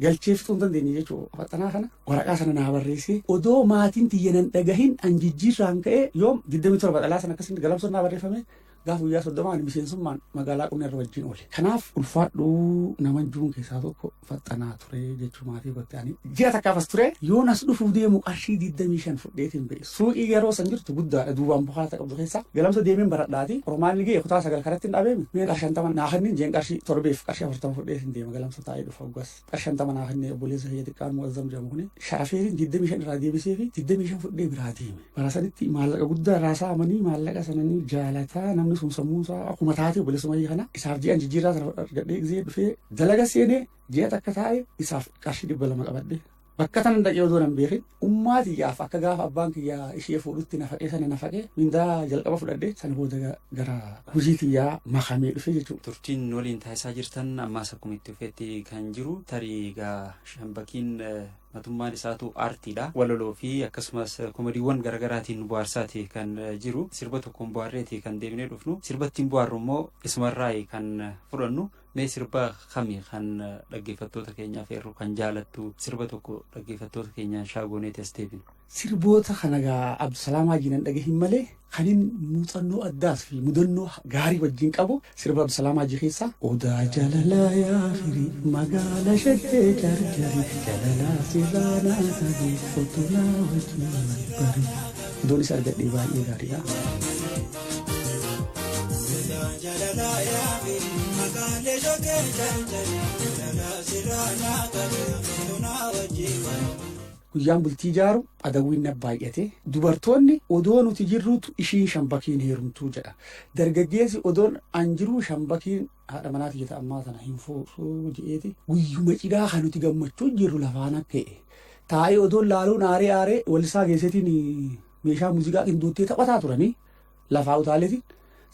galchee fixuu hin dandeenye jechuu faxanaa kana waraqaa sana naa barreessee odoo maatiin tiyya nan dhagahin an jijjiirraan ka'ee yoom 27 dhalaa sana akkasitti galamsoon naa barreeffame gaafa guyyaa 30 ani miseensummaan magaalaa qonna irra wajjin oole. Kanaaf ulfaadhuu nama juun keessaa tokko faxanaa ture jechuu maatii gotti ani ji'a takkaafas ture yoon as dhufuuf deemu qarshii 25 fudheetiin ba'e. Suuqii yeroo san jirtu guddaadha duubaan bukaata qabdu keessa galamsa deemeen baradhaati qormaanni ga'e kutaa sagal karatti hin dhabeemi mee qarshii shantama naa kenni jeen qarshii torbeef qarshii afurtama fudhee hin deema galamsa taa'ee dhufa oggas qarshii shantama naa kenni obboleessa kiyya xiqqaan mu'azzam jedhamu kuni sharafeetiin digdamii shan irraa deebisee fi digdamii shan fudhee biraa deeme bara sanitti maallaqa guddaa irraa saamanii maallaqa sananii jaalataa namni sun sammuun isaa akkuma taate obboleessa mayii kana isaaf ji'an jijjiirraa sana argadhee gisee dhufee dalaga seenee ji'a takka taa'e isaaf qarshii dhibba lama qabadhe Bakka tanan dhaqee odoo nan beekin ummaa tiyyaaf akka gaafa abbaan kiyya ishee fuudhutti nafaqee sana nafaqee mindaa jalqaba fudhadhe sana booda ga- gara hojii tiyyaa makamee dhufe jechuudha. Turtiin nu waliin taasisaa
jirtan ammaas akkuma itti fufetti kan jiru tarii egaa shambakiin eh, matummaan isaatu aartiidha. Walaloo fi akkasumas eh, komediiwwan garaagaraatiin nu bohaarsaati kan eh, jiru. Sirba tokkoon bohaarreeti kan deebinee dhufnu. Sirba ittiin bohaarru immoo isumarraa kan eh, fudhannu. Mee sirba kami kan dhaggeeffattoota keenyaaf eerru kan jaalattu sirba tokko dhaggeeffattoota keenyaan shaagooneeti as deebinu. Sirboota kana
gaa Abdusalaam Haajii nan dhagahin malee kanin muuxannoo addaas fi mudannoo gaarii wajjin qabu sirba Abdusalaam Haajii keessaa Odaa jalalaa yaa firii magaala shaggee jarjari jalalaa sirraa naa qabi kottu naa wajjin bari. Doonis argadhee baay'ee gaariidha. Guyyaan bultii ijaaru adawwiin na baay'ate dubartoonni odoo nuti jirruutu ishiin shambakiin heerumtuu jedha dargaggeessi odoon an jiruu shambakiin haadha manaati jeta ammaa sana hin fuudhuu jedheeti guyyuma cidhaa kan nuti gammachuu jirru lafaana ta'e taa'ee odoon laaluun aaree aaree walisaa geessetiin meeshaa muuziqaa qindoottee taphataa turanii lafaa utaaleetiin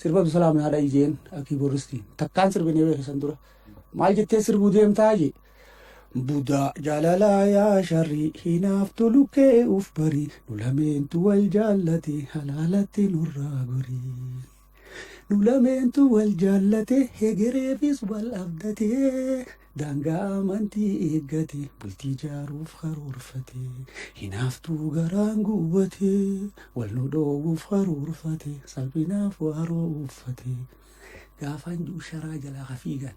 sirba Abdusalaam naa dhayi jeen kiiboorristiin takkaan sirbinee beekisan dura maal jettee sirbuu deemtaa jee Budaa jaalalaa yaa sharrii hinaaftu lukkee uf barii nu lameentu wal jaallate halaalatti nurraa gorii. Nu lameentu wal jaallate hegereefis wal abdate daangaa amantii eeggate bultii jaaruuf karoorfate hinaaftuu garaan guubbate wal nu dhoowwuuf karoorfate salphinaaf waaroo uffate gaafaan du'u sharaa jalaa hafiigan.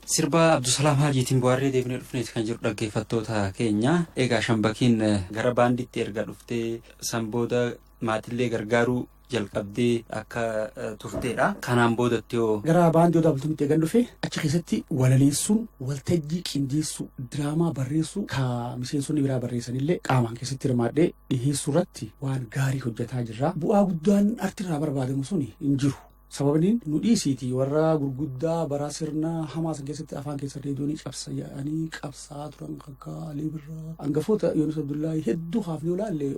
Sirba Abdusalaam Haajiitiin bohaarree deebinee dhufneeti kan jiru dhaggeeffattoota keenya. Egaa Shambakiin gara baandiitti erga dhuftee san booda maatillee gargaaruu jalqabdee akka turteedha. Kanaan boodatti hoo? Gara baandii Odaa Bultumitti
eegan dhufe achi keessatti walaleessuun waltajjii qindeessuu diraamaa barreessuu ka miseensonni biraa barreessanillee qaamaan keessatti hirmaadhee dhiheessuu irratti waan gaarii hojjetaa jirra. Bu'aa guddaan artirraa barbaadamu suni hin jiru. Sababni nu dhiisiiti warra gurguddaa baraa sirna hamaa san keessatti afaan keessa reediyoonii cabsa yaa'anii qabsaa turan akka Alii Birraa hangafoota Yoonis Abdullaahii hedduu haafnee olaalle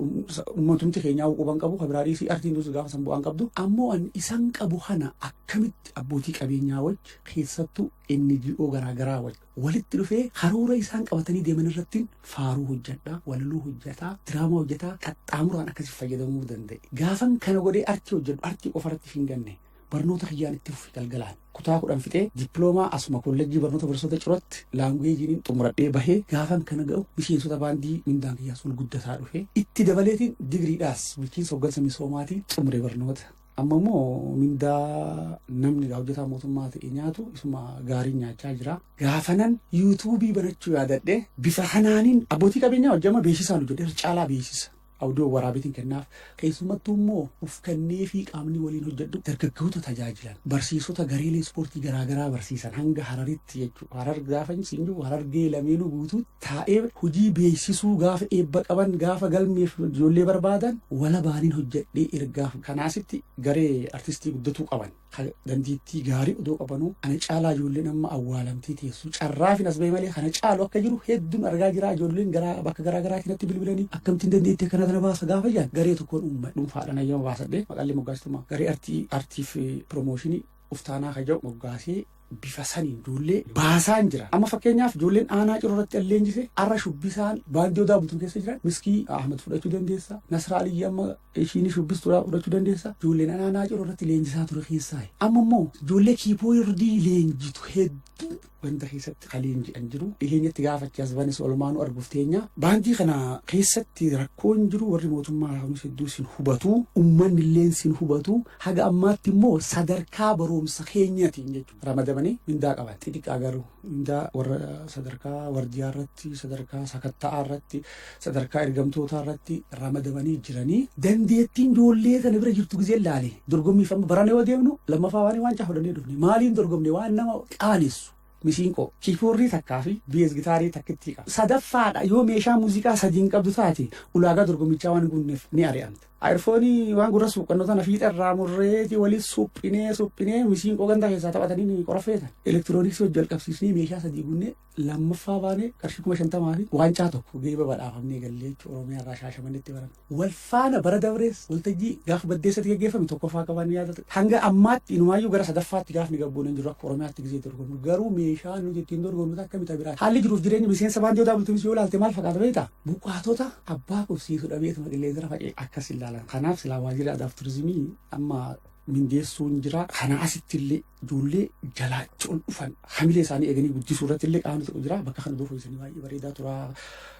ummatumti keenyaa quban qabu kabiraa dhiisii artiin duus gaafa san bu'aan qabdu ammoo an isan qabu kana akkamitti abbootii qabeenyaa wajji keessattuu NGO garaa garaa wajji walitti dhufee karoora isaan qabatanii deeman irrattin faaruu hojjadha, walaloo hojjataa, diraamaa hojjataa qaxxaamuraan akkasi fayyadamuu danda'e. Gaafan kana godhee artii hojjadhu artii qofa irratti hin ganne. Barnoota kiyyaan itti fufe galgalaan. Kutaa kudhan fixee dippiloomaa asuma kollejjii barnoota barsiisota cirotti laanguweejiin xumuradhee bahee gaafan kana ga'u miseensota baandii mindaan kiyyaas ol guddataa dhufe. Itti dabaleetiin digriidhaas bulchiinsa hoggansa misoomaatiin xumure barnoota. Amma immoo mindaa namni gaa hojjetaa mootummaa ta'e nyaatu isuma gaariin nyaachaa jira. Gaafanan yuutuubii banachuu yaadadhe bifa kanaanin abbootii qabeenyaa wajjin amma beeksisaan hojjedhe irra caalaa beeksisa. Awudiyoo waraabeetiin kennaaf. Keessumattuu immoo of kennee fi qaamni waliin hojjedhu dargaggoota tajaajilan barsiisota gareelee ispoortii garaagaraa barsiisan hanga hararitti jechuudha. Harar gaafa siin jiru harargee lameenuu guutuutti taa'ee hojii beeksisuu gaafa eebba qaban gaafa galmeef ijoollee barbaadan walabaanin hojjedhee ergaaf kanaasitti garee artistii guddatuu qaban kan dandeettii gaarii odoo qabanuu ana caalaa ijoolleen amma awwaalamtee teessu carraafin as ba'e malee kana caalu akka jiru hedduun argaa jira ijoolleen garaa bakka garaa garaatiin natti bilbilanii akkamtiin dandeettii akkana kana baasa gaafa jedhan garee tokkoon uumma dhuunfaadhaan ayyama baasadhee maqallee moggaasituma garee artii artiif piroomooshinii uftaanaa ka jedhu moggaasee bifa saniin ijoollee baasaan jira. Amma fakkeenyaaf ijoolleen aanaa ciroo irratti an leenjise har'a shubbisaan baandii odaa bultum keessa jiran miskii Ahmad fudhachuu dandeessa. Nasraa Aliyyi amma ishiin shubbistuudhaa fudhachuu dandeessa. Ijoolleen aanaa ciroo irratti leenjisaa ture keessaa. Amma immoo ijoollee kiipoordii leenjitu hedduu banda keessatti kaliin jedhan jiru dhiheenyatti gaafatti as banis olmaanu arguuf teenya baandii kana keessatti rakkoon jiru warri mootummaa haamuu hedduu sin hubatu ummanni illee sin hubatu haga ammaatti immoo sadarkaa barumsa keenyatiin jechuudha ramadamanii mindaa qaban xixiqqaa garuu mindaa warra sadarkaa wardiyaa irratti sadarkaa sakatta'aa irratti sadarkaa ergamtootaa irratti ramadamanii jiranii dandeettiin ijoollee sana bira jirtu gizee laale dorgommiif amma barana yoo deemnu lammaffaa waan waan caafadannee dhufne maaliin dorgomne waan nama qaanessu misiinqoo kiipoorrii takkaa fi biyees gitaarii takkittii qaba sadaffaadha yoo meeshaa muuziqaa sadiin qabdu taate ulaagaa dorgommichaa waan guunneef ni ari'amta ayirfoonii waan gurra suuqqannoo tana fiixa irraa murreeti waliin suphinee suphinee misiinqoo gandaa keessaa taphatanii qorafeetan elektirooniksii hojii jalqabsiisnee meeshaa sadii guunnee lammaffaa baanee qarshii kuma shantamaa fi waancaa tokko geeba badhaafamnee gallee jechuudha Oromiyaa irraa shaashamannetti baran. Wal faana bara dabrees waltajjii gaafa baddeessatti gaggeeffame tokkoffaa qabaan ni yaadatu. Hanga ammaatti inumaayyuu gara sadaffaatti gaafni gabbuun hin jiru akka Oromiyaatti gisee dorgomnu. Garuu meeshaa nuti ittiin dorgomnu akka mita biraa. Haalli jiruuf jireenya miseensa baandii odaa bultuunis yoo ilaalte maal fakkaata beektaa? Buqqaatota abbaa qubsiisu dhabeetuma qilleensara faca'e akkas ilaalan. Kanaaf silaa waajjira aadaa fi turizimii amma mindeessuun jira. Kana asitti illee Ijoollee jalaacha ol dhufan hamilee isaanii eeganii guddisuu irratti illee qaamni tokko jira. Bakka kana doofa isanii baay'ee bareedaa tura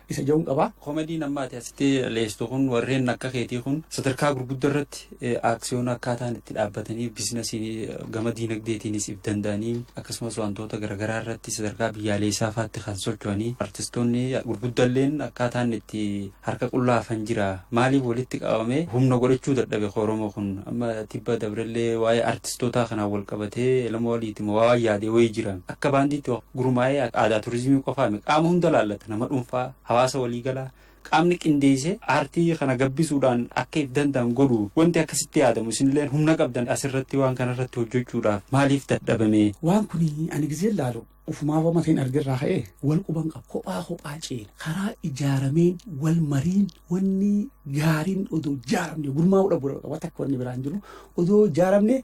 isa ja'uun qaba. Komediin amma ati asitti
leestu kun warreen akka keetii kun sadarkaa gurguddaa irratti aaksiyoona akkaataan itti dhaabbatanii biizinasiin gama diinagdeetiinis if danda'anii akkasumas wantoota garaagaraa irratti sadarkaa biyyaaleessaa faatti kan socho'anii artistoonni gurguddalleen akkaataan itti harka qullaa hafan jira. Maaliif walitti qabamee humna godhachuu dadhabe ka Oromoo kun? Amma tibba dabrellee waa'ee artistootaa kanaan wal qabatee Elemoo Aliiti moo waa waan yaade wayii jira. Akka baandiitti wa gurmaa'ee aadaa turizimii qofaa miti. Qaama hunda laallata. Nama dhuunfaa, hawaasa walii galaa. Qaamni qindeessee aartii kana gabbisuudhaan akka if danda'an godhu wanti akkasitti yaadamu isinilleen humna qabdan asirratti waan kanarratti hojjechuudhaaf maaliif dadhabame? Waan kuni ani
gizeen laalu Ufumaa homa ta'in argerraa ka'ee wal quban qaba. Kophaa kophaa ceena. Karaa ijaarameen wal mariin wanni gaariin odoo ijaaramne gurmaa'uu dhabu qaba. Wata akka wanni biraan jiru odoo ijaaramne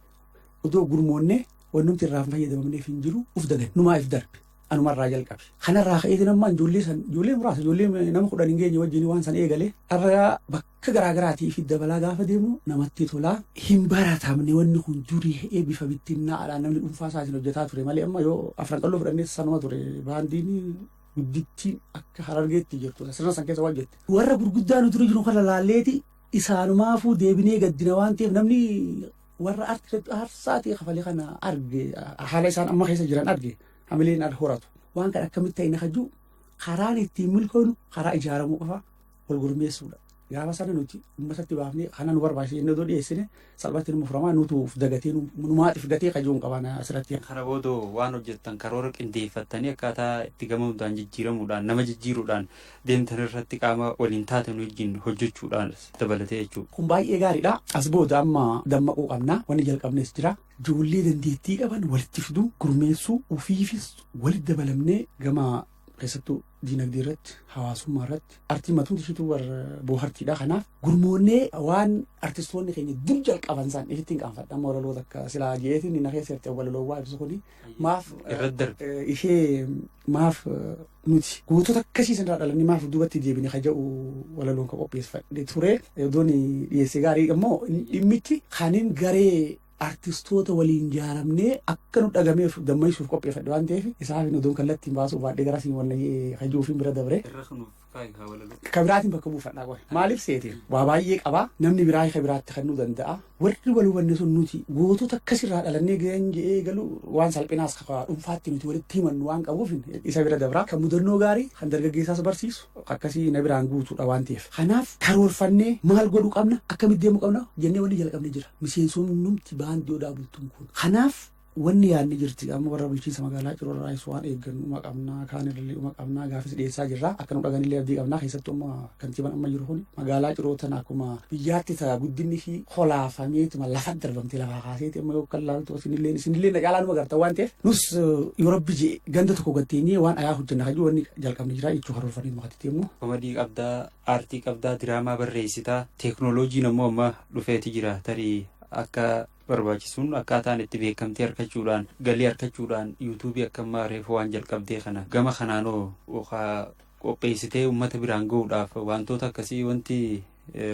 odoo gurmoonne wanni nuti irraa hin fayyadamamneef hin jiru uf dagan numaa if darbe. Anumarraa jalqabe. Kanarraa ka'eetiin ammaa ijoollee san ijoollee muraasa ijoollee nama kudhan hin geenye wajjin waan san eegale. Arra bakka akka garaa garaatii fi dabalaa gaafa deemu namatti tola. Hin baratamne wanni kun durii ha'ee bifa bittinnaa'aadhaan namni dhuunfaa isaatiin hojjetaa ture malee amma yoo afran qalloo fudhannee sanuma ture baandiin guddittiin akka harargeetti jirtu sirna san keessa waan jette. Warra gurguddaa nu dura jiru kana laalleeti isaanumaafuu deebinee gaddina waan ta'eef namni warra arti aarsaa ta'e kafalee kana arge haala isaan amma keessa jiran arge hamileen al horatu waan kan akkamitti ta'e na kajuu karaan ittiin milkoonu karaa ijaaramuu qofa wal gurmeessuudha. Gaafa sana nuti uummatatti baafnee kana nu barbaachisa jennee otoo dhiyeessine salphatti nu furamaa nutu of dagatee nu nu maatiif gatee kajuun qabana asirratti. Kana booda waan
hojjettan karoora qindeeffattanii akkaataa itti gama hundaan jijjiiramuudhaan nama jijjiiruudhaan deemtan irratti qaama waliin taatan wajjin hojjechuudhaan dabalatee jechuudha. Kun baay'ee gaariidha.
As booda amma dammaquu qabna. Wanni jalqabnes jira. Ijoollee dandeettii qaban walitti fiduu, gurmeessuu, ofiifis walitti dabalamnee gama keessattuu diinagdee irratti, hawaasummaa irratti artii matuun ishiitu war boohartiidha. Kanaaf gurmoonnee waan artistoonni keenya dur jalqaban isaan ittiin qaanfadha. Amma walaloota akka silaa jeetiin na keessa irratti walaloowwaa ibsu kuni maaf Irratti darbe. eh, ishee maaf eh, nuti gootota akkasii sanarraa dhalannee maaf duubatti deebine ka jedhu walaloon ka qopheeffadhe ture. Iddoon dhiyeessee gaarii immoo dhimmichi kanin garee artistoota waliin jaaramnee akka nu dhagameef gammachiisuuf qopheeffadhe waan ta'eef isaaf hin odoon kallattiin baasuu baadhee gara siin wal kajuufiin bira dabre. Ka biraatiin bakka buufadhaa qofa. Maaliif seete waa baay'ee qabaa namni biraa ka biraatti kennuu danda'a. Warri wal hubanne sun nuti gootota akkasirraa dhalannee ga'een jedhee galu waan salphinaas kafa dhuunfaatti nuti walitti himannu waan qabuuf isa bira dabraa kan mudannoo gaarii kan dargaggeessaas barsiisu akkasii na biraan guutuudha waan ta'eef. Kanaaf karoorfannee maal godhuu qabna akkamitti deemuu qabna jennee wanni jalqabne jira. miseensonnumti baandii Odaa Bultum kun. Kanaaf wanni yaadni jirti amma warra bulchiinsa magaalaa Ciroo irraayis waan eeggannuma qabna kaan irralleedhuma qabna gaafis dhiyeessaa jirra akka nu dhaganillee abdii qabna keessattuu amma kantiibaan amma jiru kun magaalaa Ciroo tana akkuma biyyaatti ta guddinni fi kolaafameetuma lafa darbamte lafaa kaaseeti amma yoo kan laaltu isinillee isinillee na caalaa numa garta waan ta'eef nus yoo rabbi jee ganda tokko gatteenyee waan ayaa hojjenna kan jiru wanni jalqabni jira jechuu karoorfannee nu hatitti immoo. Komadii qabdaa
Aartii qabdaa, diraamaa barreessita. Teeknooloojiin ammoo amma dhufeeti jira. Tarii akka barbaachisuun akkaataan itti beekamtii arkachuudhaan, galii arkachuudhaan yuutuubii akka ammaa reefu waan jalqabdee kana gama kanaanoo okaa qopheessitee ummata biraan ga'uudhaaf waantoota akkasii wanti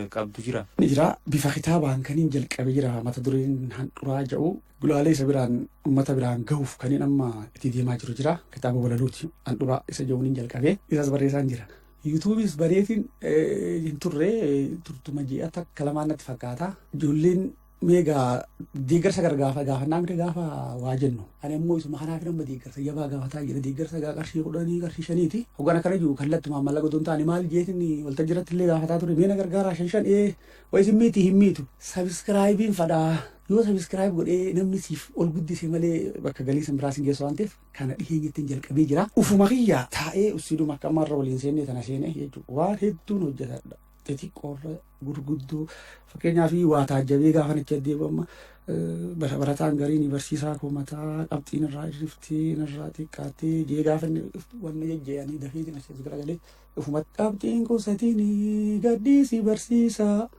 qabdu jira? Ni jira. Bifa
kitaabaan kaniin jalqabe jira. Mata dureen handhuraa ja'u gulaalee isa biraan ummata biraan ga'uuf kaniin amma itti deemaa jiru jira. Kitaaba walaluuti handhuraa isa ja'uun hin jalqabe. Isas barreessaan jira. Yuutuubiis baneetiin hin turre turtuma ji'a takka lamaan natti fakkaata. Ijoolleen meegaa deeggarsa gargaafa gaafannaa miti gaafa waa jennu. Ani immoo isuma kanaaf nama deeggarsa jabaa gaafataa jira. Deeggarsa gaa qarshii kudhanii qarshii shaniiti. Hoggaan akkana jiru kallattumaan mallaqa otoo hin taane maal jeetiin waltajjii irratti illee gaafataa ture. Mee na gargaaraa shan shan ee wayi simmiitti hin miitu. Sabiskiraayibiin fadhaa. Yoo sabiskiraayib godhee namni siif ol guddise malee bakka galii san biraa sin geessu waan ta'eef kana dhiheenyattin jalqabee jira. Ufuma kiyya taa'ee ussiiduma akka amma irra waliin seennee tana seenee jechuudha. Waan hedduun hojjetadha. Xixiqqoorra gurguddoo fakkeenyaaf waa taajjabee gaafa nacha deebama bara barataan gariin barsiisaa koo mataa qabxiin irraa irriftee irraa xiqqaattee jee gaafa inni dhuftu wanna jajjayanii dafee jina sees garagalee ufuma qabxiin koo satiin gadhiisii barsiisaa.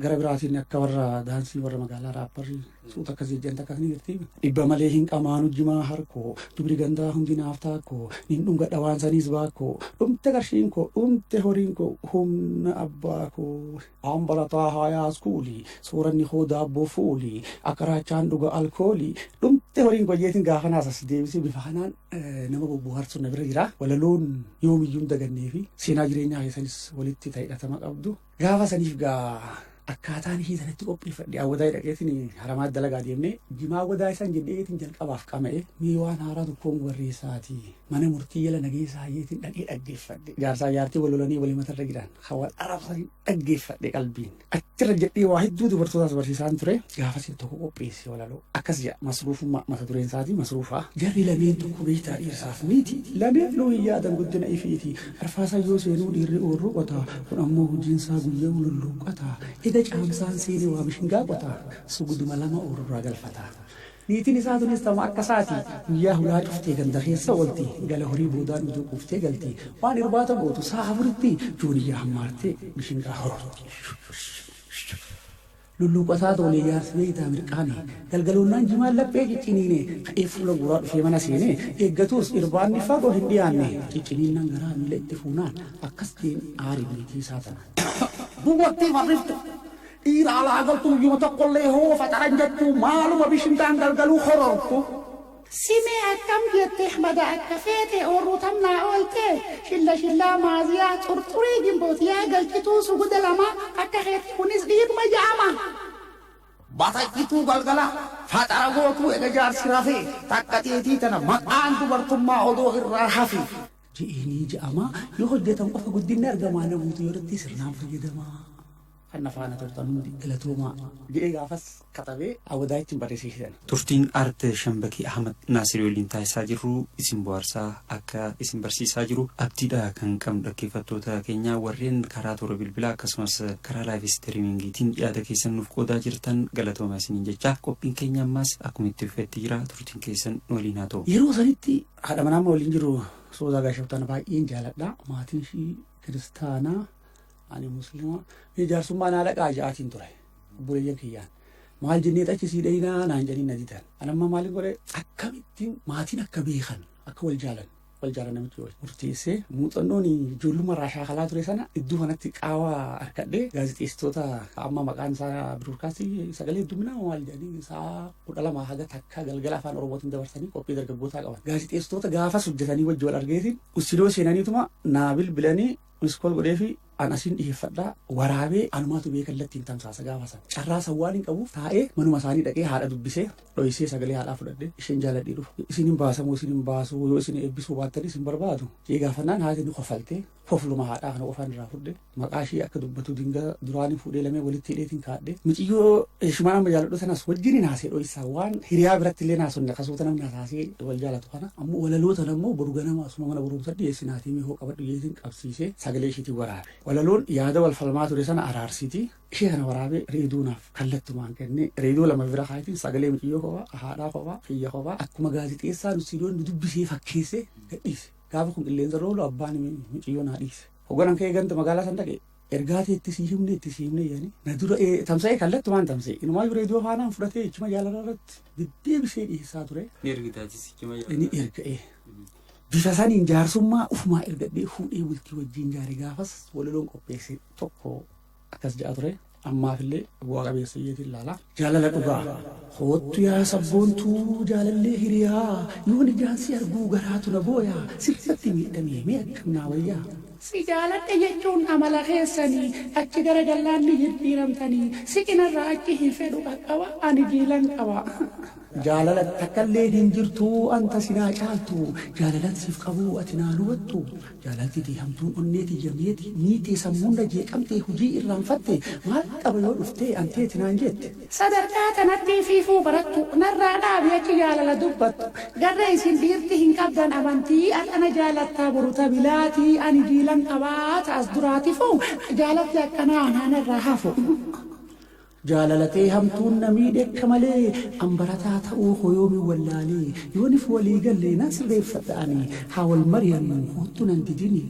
Gara biraatiin akka warra daansii warra magaalaa raapparri suuta akkasii jedhan takka ni jirti. Dhibba malee hin qamaanu jimaa harkoo dubri gandaa hundi naaf taakkoo nin dhunga dhawaan saniis baakkoo dhumte qarshiin koo dhumte horiin koo humna abbaa koo. Aan barataa haayaa iskuulii sooranni koo daabboo fuulii akka raachaan dhuga alkoolii dhumte horiin koo jeetiin gaafa naas as deebisee bifa kanaan nama bobbooharsuun na bira jira. Walaloon yoomiyyuu hin dagannee fi seenaa jireenyaa keessanis walitti ta'e hidhatama qabdu. Gaafa saniif gaa akkaataan hii sanatti qopheeffadhe awwadaa dhaqeetiin haramaa dalagaa deemnee jimaa wadaa isaan jedheetiin jalqabaaf qama'e mee waan haaraa tokkoon barreessaati mana murtii jala nageessaa yeetiin dhaqee dhaggeeffadhe jaarsaa jaartii wal lolanii walii matarra jiran hawal arabsanii dhaggeeffadhe qalbiin achirra jedhee waa hedduu dubartootaas barsiisaan ture gaafa siif tokko qopheesse walaloo akkas jedha masruufummaa mata dureen isaatii masruufaa jarri lameen tokko beektaa dhiirsaaf miti lameen luu hin yaadan guddina ifiiti Arfaasaa yoo seenuu dhiirri oorruu qotaa kun ammoo hujiinsaa guyya'uu lulluuqqataa ega caamsaan seene waa bishingaa qotaa suguduma lama oorrurraa galfataa niitiin isaa tunis tama akka isaati guyyaa hulaa cuftee ganda keessa oolti gala horii boodaan uduu quuftee galti waan irbaata gootu sa'a afuritti jooniyyaa hammaartee bishingaa horoorti. Lulluuqataa toolee jaarsi beeytaa mirqaane. Galgaloonnaan jimaan laphee cicciniine. Ka'ee fuula guuraa dhufee mana seene. Eeggatuus irbaanni fagoo hin dhiyaanne. Cicciniinnaan garaa miila itti fuunaan. Akkas je'een aare niitii isaa tanaan. Dubartii farriftu, dhiira alaa galtu guyyuma tokkollee hoo faxaran jattuu maaluma bishintaan galgaluu horortu? Simee
akkam jette ahmada akka feete or rutam naa oolte shilla shillaa maaziyaa xurxurii ginboot yaa galchituu suguda lamaa akka keetii kunis dhiiruma ja'ama.
Batachituu galgala faxara gootuu ega jaarsi rafee takka teetii tana maqaan dubartummaa odoo irraa hafi. Ji'eenii ja'amaa yoo hojjatan qofa guddinni argamaa namuutu yoo irratti sirnaan fayyadamaa. Kan na faana turtan hundi galatoomaa! jedhee gaafas katabee Awwadaayitti barreessee kenne. Turtiin Art
Shambakii Ahmad Naasiri waliin taasisaa jirru isin bohaarsaa akka isin barsiisaa jiru abdiidha kan qabnu dhaggeeffattoota keenya warreen karaa toora bilbilaa akkasumas karaa live istiriimingiitiin yaada keessan nuuf qoodaa jirtan galatooma isiniin jechaa qophiin keenya ammaas akkuma itti fufetti jira turtiin keessan nu waliin haa ta'u. Yeroo sanitti haadha
manaa amma waliin jiru Soozaa Gaashoftaan baay'een jaaladha. Maatiin ishii kiristaanaa. ani muslima ni jaarsummaa naa dhaqaa ja'aatiin ture obboleeyyan kiyyaan maal jennee achi sii dhaynaa naan jedhanii na didan ani amma maalin godhe akkamittiin maatiin akka beekan akka wal jaalan wal jaalan namichi wal murteessee muuxannoon ijoollummaa irraa shaakalaa ture sana iddoo kanatti qaawa harkadhee gaazexeessitoota amma maqaan isaa biroodkaastii sagalee hedduminaa maal jedhanii isaa kudha lama haga takka galgala afaan oromootiin dabarsanii qophii dargaggootaa qaban gaazexeessitoota gaafas hojjetanii wajji wal argeetiin ussidoo seenaniituma naa bilbilanii Miss call godheefi an asiin dhiheeffadha waraabee anumaatu bee kallattiin tamsaasa gaafa san carraa san waan hin qabuuf taa'ee manuma isaanii dhaqee haadha dubbisee dhoysee sagalee haadhaa fudhadhe isheen jaaladhee dhufu isin hin baasamoo isin hin baasuu yoo isin eebbisuu baattan isin barbaadu jee gaafannaan haati ni kofaltee kofluma haadhaa kana qofaan irraa fudhe maqaa ishee akka dubbatu dingaa duraanii fuudhee lamee walitti hidheetiin kaadhe miciyyoo heshimaan amma jaaladhu sanas wajjin hin haasee dhoysaa waan hiriyaa biratti illee naasonne kasuuta namni hasaasee wal jaalatu kana ammoo walaloo tana ammoo boru ganama asuma mana barumsa dhiyeessinaatii mee hoo qabadhu jeetiin qabsiisee sagalee ishiitiin waraabe. Walaloon yaada wal falmaa ture sana araarsiti ishee kana waraabee reeduu naaf kallattumaan kennee reeduu lama bira kaayitiin sagalee miciyyoo kophaa haadhaa kophaa kiyya kophaa akkuma gaazexeessaa nusiidoon nu dubbisee fakkeessee gadhiise. Gaafa kun qilleensa roolu abbaan miciyyoo naa dhiise. Hoogganaan ka'ee ganda magaalaa san dhaqe Ergaa kee itti sii himne itti sii himne jedhanii na dura ee, tamsa'ee kallattumaan tamsa'e. Inumaayyuu reediyoo faanaan fudhatee jechuma jaalalaa irratti deddeebisee dhiyeessaa ture. Ni ergita atis jechuma Ni jaalala. erga ee. Bifa saniin jaarsummaa ufumaa ergadhee fuudhee bultii wajjin jaare gaafas walaloon qopheesse tokko akkas ja'a ture. Ammaafillee bu'aa qabeessa iyyeetiin ilaalaa. Jaalala dhugaa! Koottu yaa sabboontuu jaalallee hiriyaa Yoon ijaan si arguu garaatu na booya Sirratti miidhamee mee akkam naa wayyaa? Si jaaladhe
jechuun amala keessani Achi gara jallaan ni jijjiiramtani Si cinarraa achi hin fedhu qaqqaba Ani jiilan qaba. Jaalala
takkalleen hin jirtu Anta si naa caaltu Jaalalan siif qabu ati naa nubattu Jaalalti tee hamtuun onnee tiyya meeti miitee sammuun na jeeqamtee hujii irraanfatte maal qaba yoo dhuftee an teeti naan jeette. Sadarkaa tanatti
fiifuu barattu narraa dhaabi achi jaalala dubbattu garre isin dhiirti hin qabdan amantii ar'a na jaalattaa boru ta bilaati ani jiilan qabaa ta as duraatifu jaalalti akkanaa anaa narraa hafu.
Jaalala tee hamtuun na miidhe akka malee An barataa ta'uu koo yoomin wallaalee Yoonif walii galle nan sirreeffadha ani Haa
wal
mari'annu koottu nan didini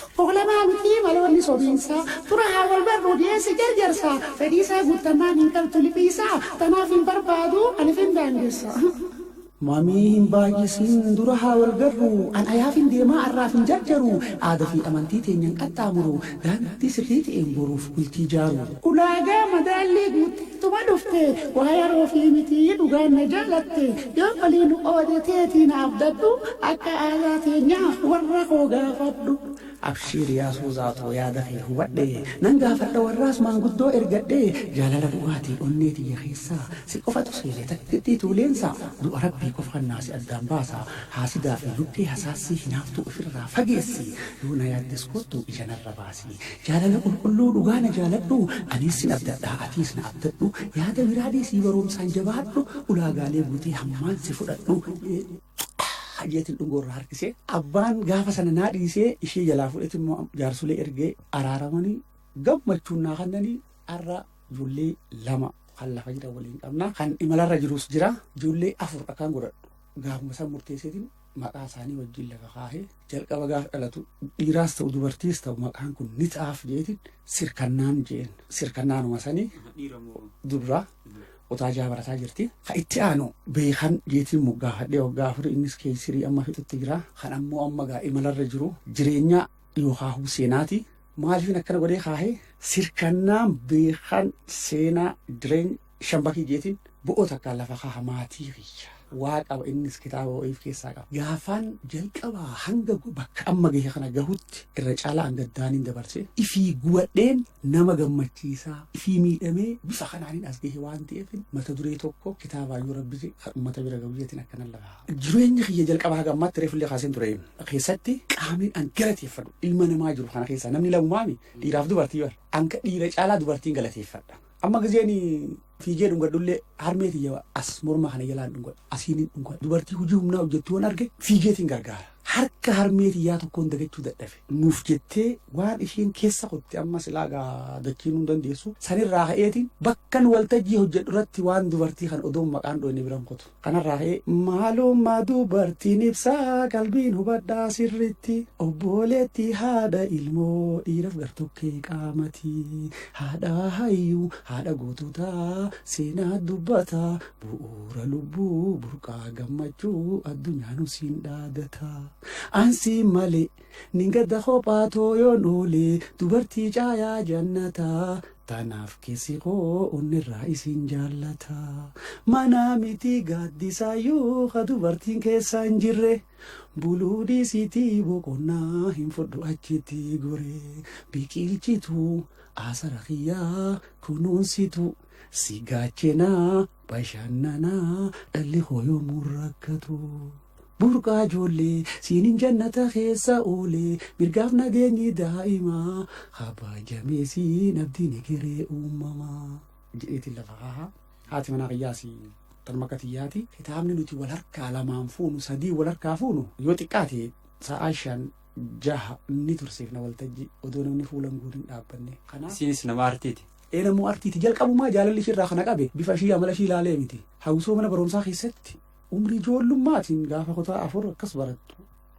Tokkoof lamaa mitii maloonni
sobiinsaa Dura haa wal barruu dhiyeessi jarjarsaa Fedhiisaa guuttamaan hin galtu liphiisaa Tanaaf hin barbaadu ani fin daangessa. Mamii
hin baay'isiin dura haa wal garru an ayaafin deemaa arraaf hin jarjaru aada fi amantii teenyan qaxxaamuru daandii sirrii ta'een boruuf bultii jaaru. Ulaagaa
madaallii guutteetuma dhufte waa yaroofi miti dhugaan na jaalatte yoo walii nu qoode teetii na abdadhu akka aadaa teenyaa warra koo gaafadhu. Abshiir yaa
suuzaa too yaada kee hubadhe Nan gaafadha warraas maanguddoo ergadhe Jaalala dhugaatiin onnee tiyya keessaa Si qofatu seene takkittii tuuleensaa Du'a rabbii qofa kan naasi addaan baasa Haasidaa fi luqqee hasaassii hinaaftuu ifirraa fageessi Yoo na yaaddes koottu ija narra baasi Jaalala qulqulluu dhugaa na jaaladhu Aniis sin abdadhaa atiis na abdadhu Yaada biraa dhiisii baroomsaan jabaadhu Ulaagaalee guutee hammaan si fudhadhu Hajeetiin dhungoo irraa harkisee abbaan gaafa sana naa dhiisee ishee jalaa fudhate immoo jaarsolee ergee araaramanii gammachuun naa kannanii har'a ijoollee lama kan lafa jira waliin qabna kan imalarra jirus jira ijoollee afur akkaan godhadhu gaafuma san murteesseetiin maqaa isaanii wajjin lafa kaahee Jalqaba gaaf dhalatu dhiiraas ta'u dubartiis ta'u maqaan kun ni ta'aaf jeetiin sirkannaan jeen sirkannaanuma sanii dubraa otaa jaa barataa jirti. Ka itti aanu beekan jeetiin moggaafadhee waggaa afurii innis keessirii amma fixutti jira. Kan ammoo amma gaa imalarra jiru jireenya yookaan huu seenaati. Maaliifin akkana godhee kaahee sirkannaan beekan seenaa jireenya Shan bakii geetiin bo'oo takkaan lafa kaaha maatii kiyya waa qaba innis kitaaba wa'iif keessaa qaba. Gaafaan jalqabaa hanga bakka amma gahe kana gahutti irra caalaa an gaddaaniin dabarse ifii guwadheen nama gammachiisaa ifii miidhamee bifa kanaaniin as gahe waan ta'eefin mata duree tokko kitaabaa yoo rabbi je kan ummata bira gahu jeetiin akkanan lafa kaaha. Jireenya kiyya jalqabaa haga ammaatti reefullee kaaseen ture keessatti qaamiin an galateeffadhu ilma namaa jiru kana keessaa namni lamumaami dhiiraaf dubartii bar anka dhiira caalaa dubartiin galateeffadha. Amma gizeen fiigee dhungadhullee harmee tiyya as morma kana jalaan dhungadhu asiin dhungadhu dubartii hojii humnaa hojjettu waan arge fiigeetiin gargaara. Harka harmee tiyyaa tokkoon dagachuu dadhabe nuuf jettee waan isheen keessa qotte amma silaa gaa dachiinuu hin dandeessu sanirraa ka'eetiin bakkan waltajjii hojjedhu irratti waan dubartii kan odoon maqaan dhoyne biran qotu. Kanarraa ka'ee maalummaa dubartiin ibsaa qalbiin hubadhaa sirritti Obbooleettii haadha ilmoo dhiiraf gartokkee qaamati Haadha hayyuu haadha goototaa seenaa dubbata Bu'uura lubbuu burqaa gammachuu addunyaa nu siin dhaadata An si malee nin gadda kophaa too yoon oole Dubartii caayaa jannataa Tanaaf keessi koo onnerraa isin jaallata. Manaa miti gaaddisaayuu ka dubartiin keessaa hin jirre. Buluu dhiisiitii boqonnaa hin fudhu achitti gore. Biqilchitu asara kiyyaa kunuunsitu. Si gaachenaa bashannanaa dhalli koo yoomuu rakkatu. Burqaa ijoollee siinin jannata keessa oole mirgaaf nageenyi daa'imaa kabajamee siin abdiin egeree uumamaa jedheetiin lafa kaaha haati manaa kiyyaas tanuma akka tiyyaati kitaabni nuti wal harkaa lamaan fuunu sadii wal harkaa fuunu yoo xiqqaate sa'aa shan jaha ni tursiifna waltajji odoo namni fuulan guurin dhaabbanne kanaaf Isiinis nama
artiiti. ee namuu artiiti
jalqabumaa jaalalli ishirraa kana qabe bifa ishii amala ishii ilaalee miti hawwisoo mana barumsaa keessatti Umrii ijoollummaatiin gaafa kutaa afur akkas barattu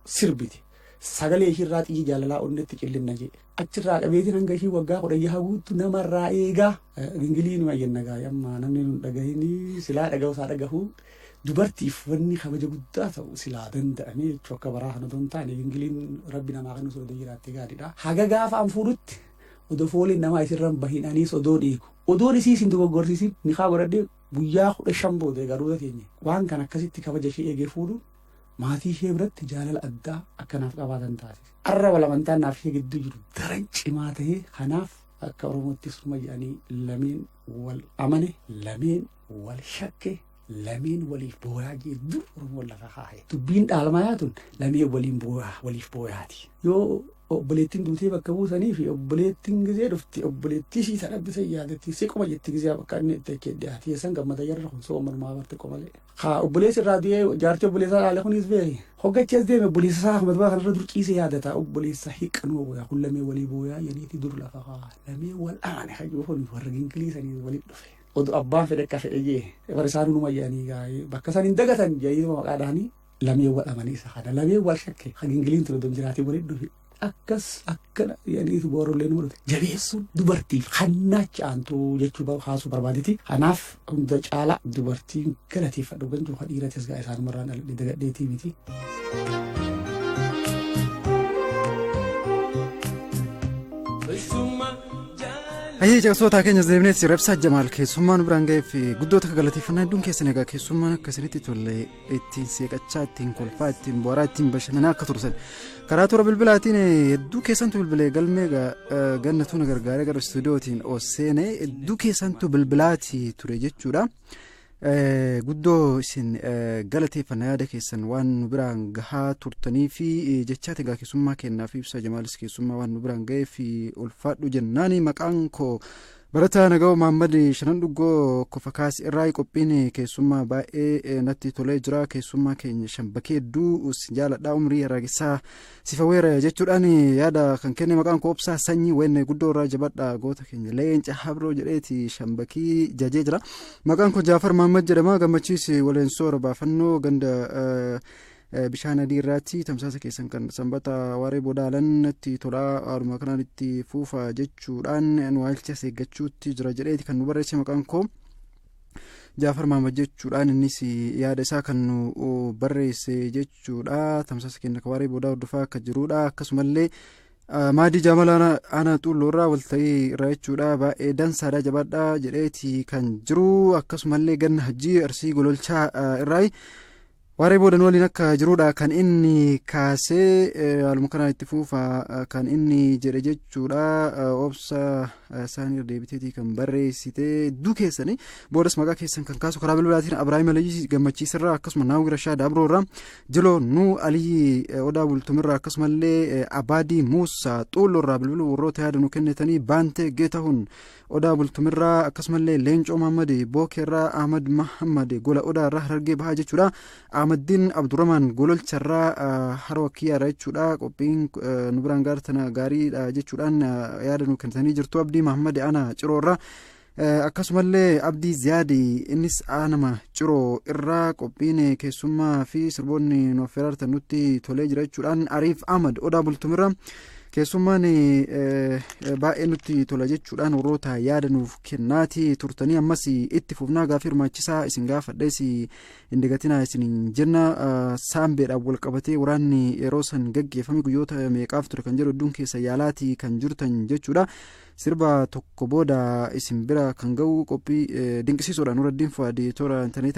sirbiti. Sagalee ishiirraa xiyyi jaalalaa onnetti cillinna jee. Achirraa qabeetiin hanga ishii waggaa kudha jaha guuttu namarraa eegaa. Gingilii numa jenna gaa'e amma namni nun dhagahinii silaa dhagahu isaa dhagahu dubartiif wanni kabaja guddaa ta'u silaa danda'amee jechuu akka baraa kana don taane gingiliin rabbi namaa kennu sodoo jiraatte gaariidha. Haga gaafa an fuudhutti odoo fooliin namaa isirran bahin aniis odoon eegu. Odoon isii isin dogoggorsiisin nikaa godhadhee Guyyaa 15 booda egaa Ruuta teenye waan kana akkasitti kabaja ishee eegee fuudhuun maatii ishee biratti jaalala addaa akka naaf qabaatan taasise. Har'a wal amantaan naaf ishee gidduu jiru daran cimaa ta'ee kanaaf akka Oromootti suma jedhanii lameen wal amane, lameen wal shakke, lameen waliif booyaa jee dur Oromoon lafa kaa'e. Dubbiin dhaalmayaa tun lameen waliin booyaa waliif booyaati. Yoo Obboleettiin duutee bakka buusanii fi obboleettiin gizee dhufti obboleettii ishii tan abbi san yaadatti si qoma jetti gizee bakka inni itti achi dhiyaate yeessan gammada jarri kun soo manumaa barte qomalee. Haa obboleessi irraa du'ee jaartii obboleessaa dhaale kunis beeki. Hoggachi as deeme obboleessa isaa Ahmad Baa kanarra dur ciisee yaadata obboleessa hiiqqanoo booyaa kun lamee walii booyaa yaniiti dur lafa kaa lamee wal aane hajuu kun warra gingilii sanii waliin dhufe. Odu abbaan fedhe akka fedhe jee bara isaanuu numa jedhanii gaa'ee bakka san hin dagatan jedhanii maqaa dhahanii lamee wal amane isa kana lamee wal shakke ha gingiliin ture don jiraatii waliin dhufe akkas akkana jedhanii boorollee nama dhufe jabeessuun dubartiif hannaacha aantuu jechuu ba- haasuu barbaaditi kanaaf hunda caalaa dubartiin galateeffadhu gantuu ha dhiiratis gaa isaanumarraan dhaladhe dagadheetii miti.
Ayyee caqasootaa keenya deemnee sirreebsaa jamaal keessummaan biraan ga'eef guddoota galateeffannaa hedduun keessan egaa keessummaan akkasinitti tollee ittiin seeqachaa ittiin kolfaa ittiin booraa ittiin bashannanaa akka tursan karaa toora bilbilaatiin hedduu keessantu bilbilee galmee gannatu na gargaaree gara istuudiyootiin oseene hedduu keessantu bilbilaati ture jechuudha. guddoo isin galateeffanna yaada keessan waan nu biraan gahaa turtanii fi jechaa tegaa keessummaa kennaa fi ibsaa jamaalis keessummaa waan nu biraan ga'ee fi ulfaadhu jennaani maqaan koo Barataa Nagawa Maammad Shanan Dhuggoo Kofa Kaas irraa qophiin keessummaa baay'ee natti tolee jira keessummaa keenya shambakee hedduu si jaaladha umrii haraagessaa sifa weera jechuudhaan yaada kan kenne maqaan koo obsaa sanyii wenne guddoo irraa jabadha goota keenya leenca habroo jedheeti shambakii jajee jira maqaan koo jaafar maammad jedhama gammachiis waleensoo robaafannoo ganda Bishaan adii irraatti tamsaasa keessan kan sanbata waaree booda haalan natti tolaa haaluma kanaan itti fuufa jechuudhaan nu haalcha seeggachuutti jira jedheeti kan nu barreesse maqaan koo Jaafar Maamad jechuudhaan innis yaada isaa kan nu barreesse jechuudha tamsaasa keenya waaree booda hordofaa akka jirudha akkasumallee maadii jaamala aanaa xuulloorraa walta'ii irraa jechuudha baay'ee dansaadha jabaadha jedheeti kan jiru akkasumallee ganna hajjii arsii gololchaa irraa Waaree booda nu waliin akka jiruudha kan inni kaasee haaluma kanaan itti fuufa kan inni jedhe jechuudha obsa isaan irra deebiteetii kan barreessite hedduu keessanii boodas maqaa keessan kan kaasu karaa bilbilaatiin Abiraahim Aliyyi gammachiisirraa akkasuma Naawwi Rashaa Daabroorraa Jiloo Nuu Aliyyi Odaa Bultumirraa akkasumallee Abaadii Muusaa Xuulloorraa bilbiluu warroota yaada nu kennitanii Baantee Geetahun Odaa Bultumirraa akkasumallee Leencoo Mahammad Bookeerraa Ahmad Mahammad gola Odaa irraa Harargee bahaa jechuudha. Ahmaddiin Abdurrahmaan gololcharraa haroo kiyyaarra jechuudha. Qophiin nu biraan gaar tana gaariidha jechuudhaan yaada nu kennitanii jirtu. Abdii Mahammad Aanaa Ciroorraa. Akkasumallee Abdii Ziyaadi innis aanama Ciroo irraa qophiin keessummaa fi sirboonni nu affeerartan nutti tolee jira jechuudhaan Ariif Ahmad Odaa Bultumirraa. Keessummaan baay'ee nutti tola jechuudhaan warroota yaada nuuf kennaati turtanii ammas itti fufnaa gaafii hirmaachisaa isin gaafadhees hin dagatinaa isin jenna saambeedhaan wal qabatee waraanni yeroo san gaggeeffame guyyoota meeqaaf ture kan jedhu hedduun keessa yaalaati kan jirtan jechuudha sirba tokko booda isin bira kan ga'u qophii dinqisiisuudhaan warra diinfaa toora intarneetii.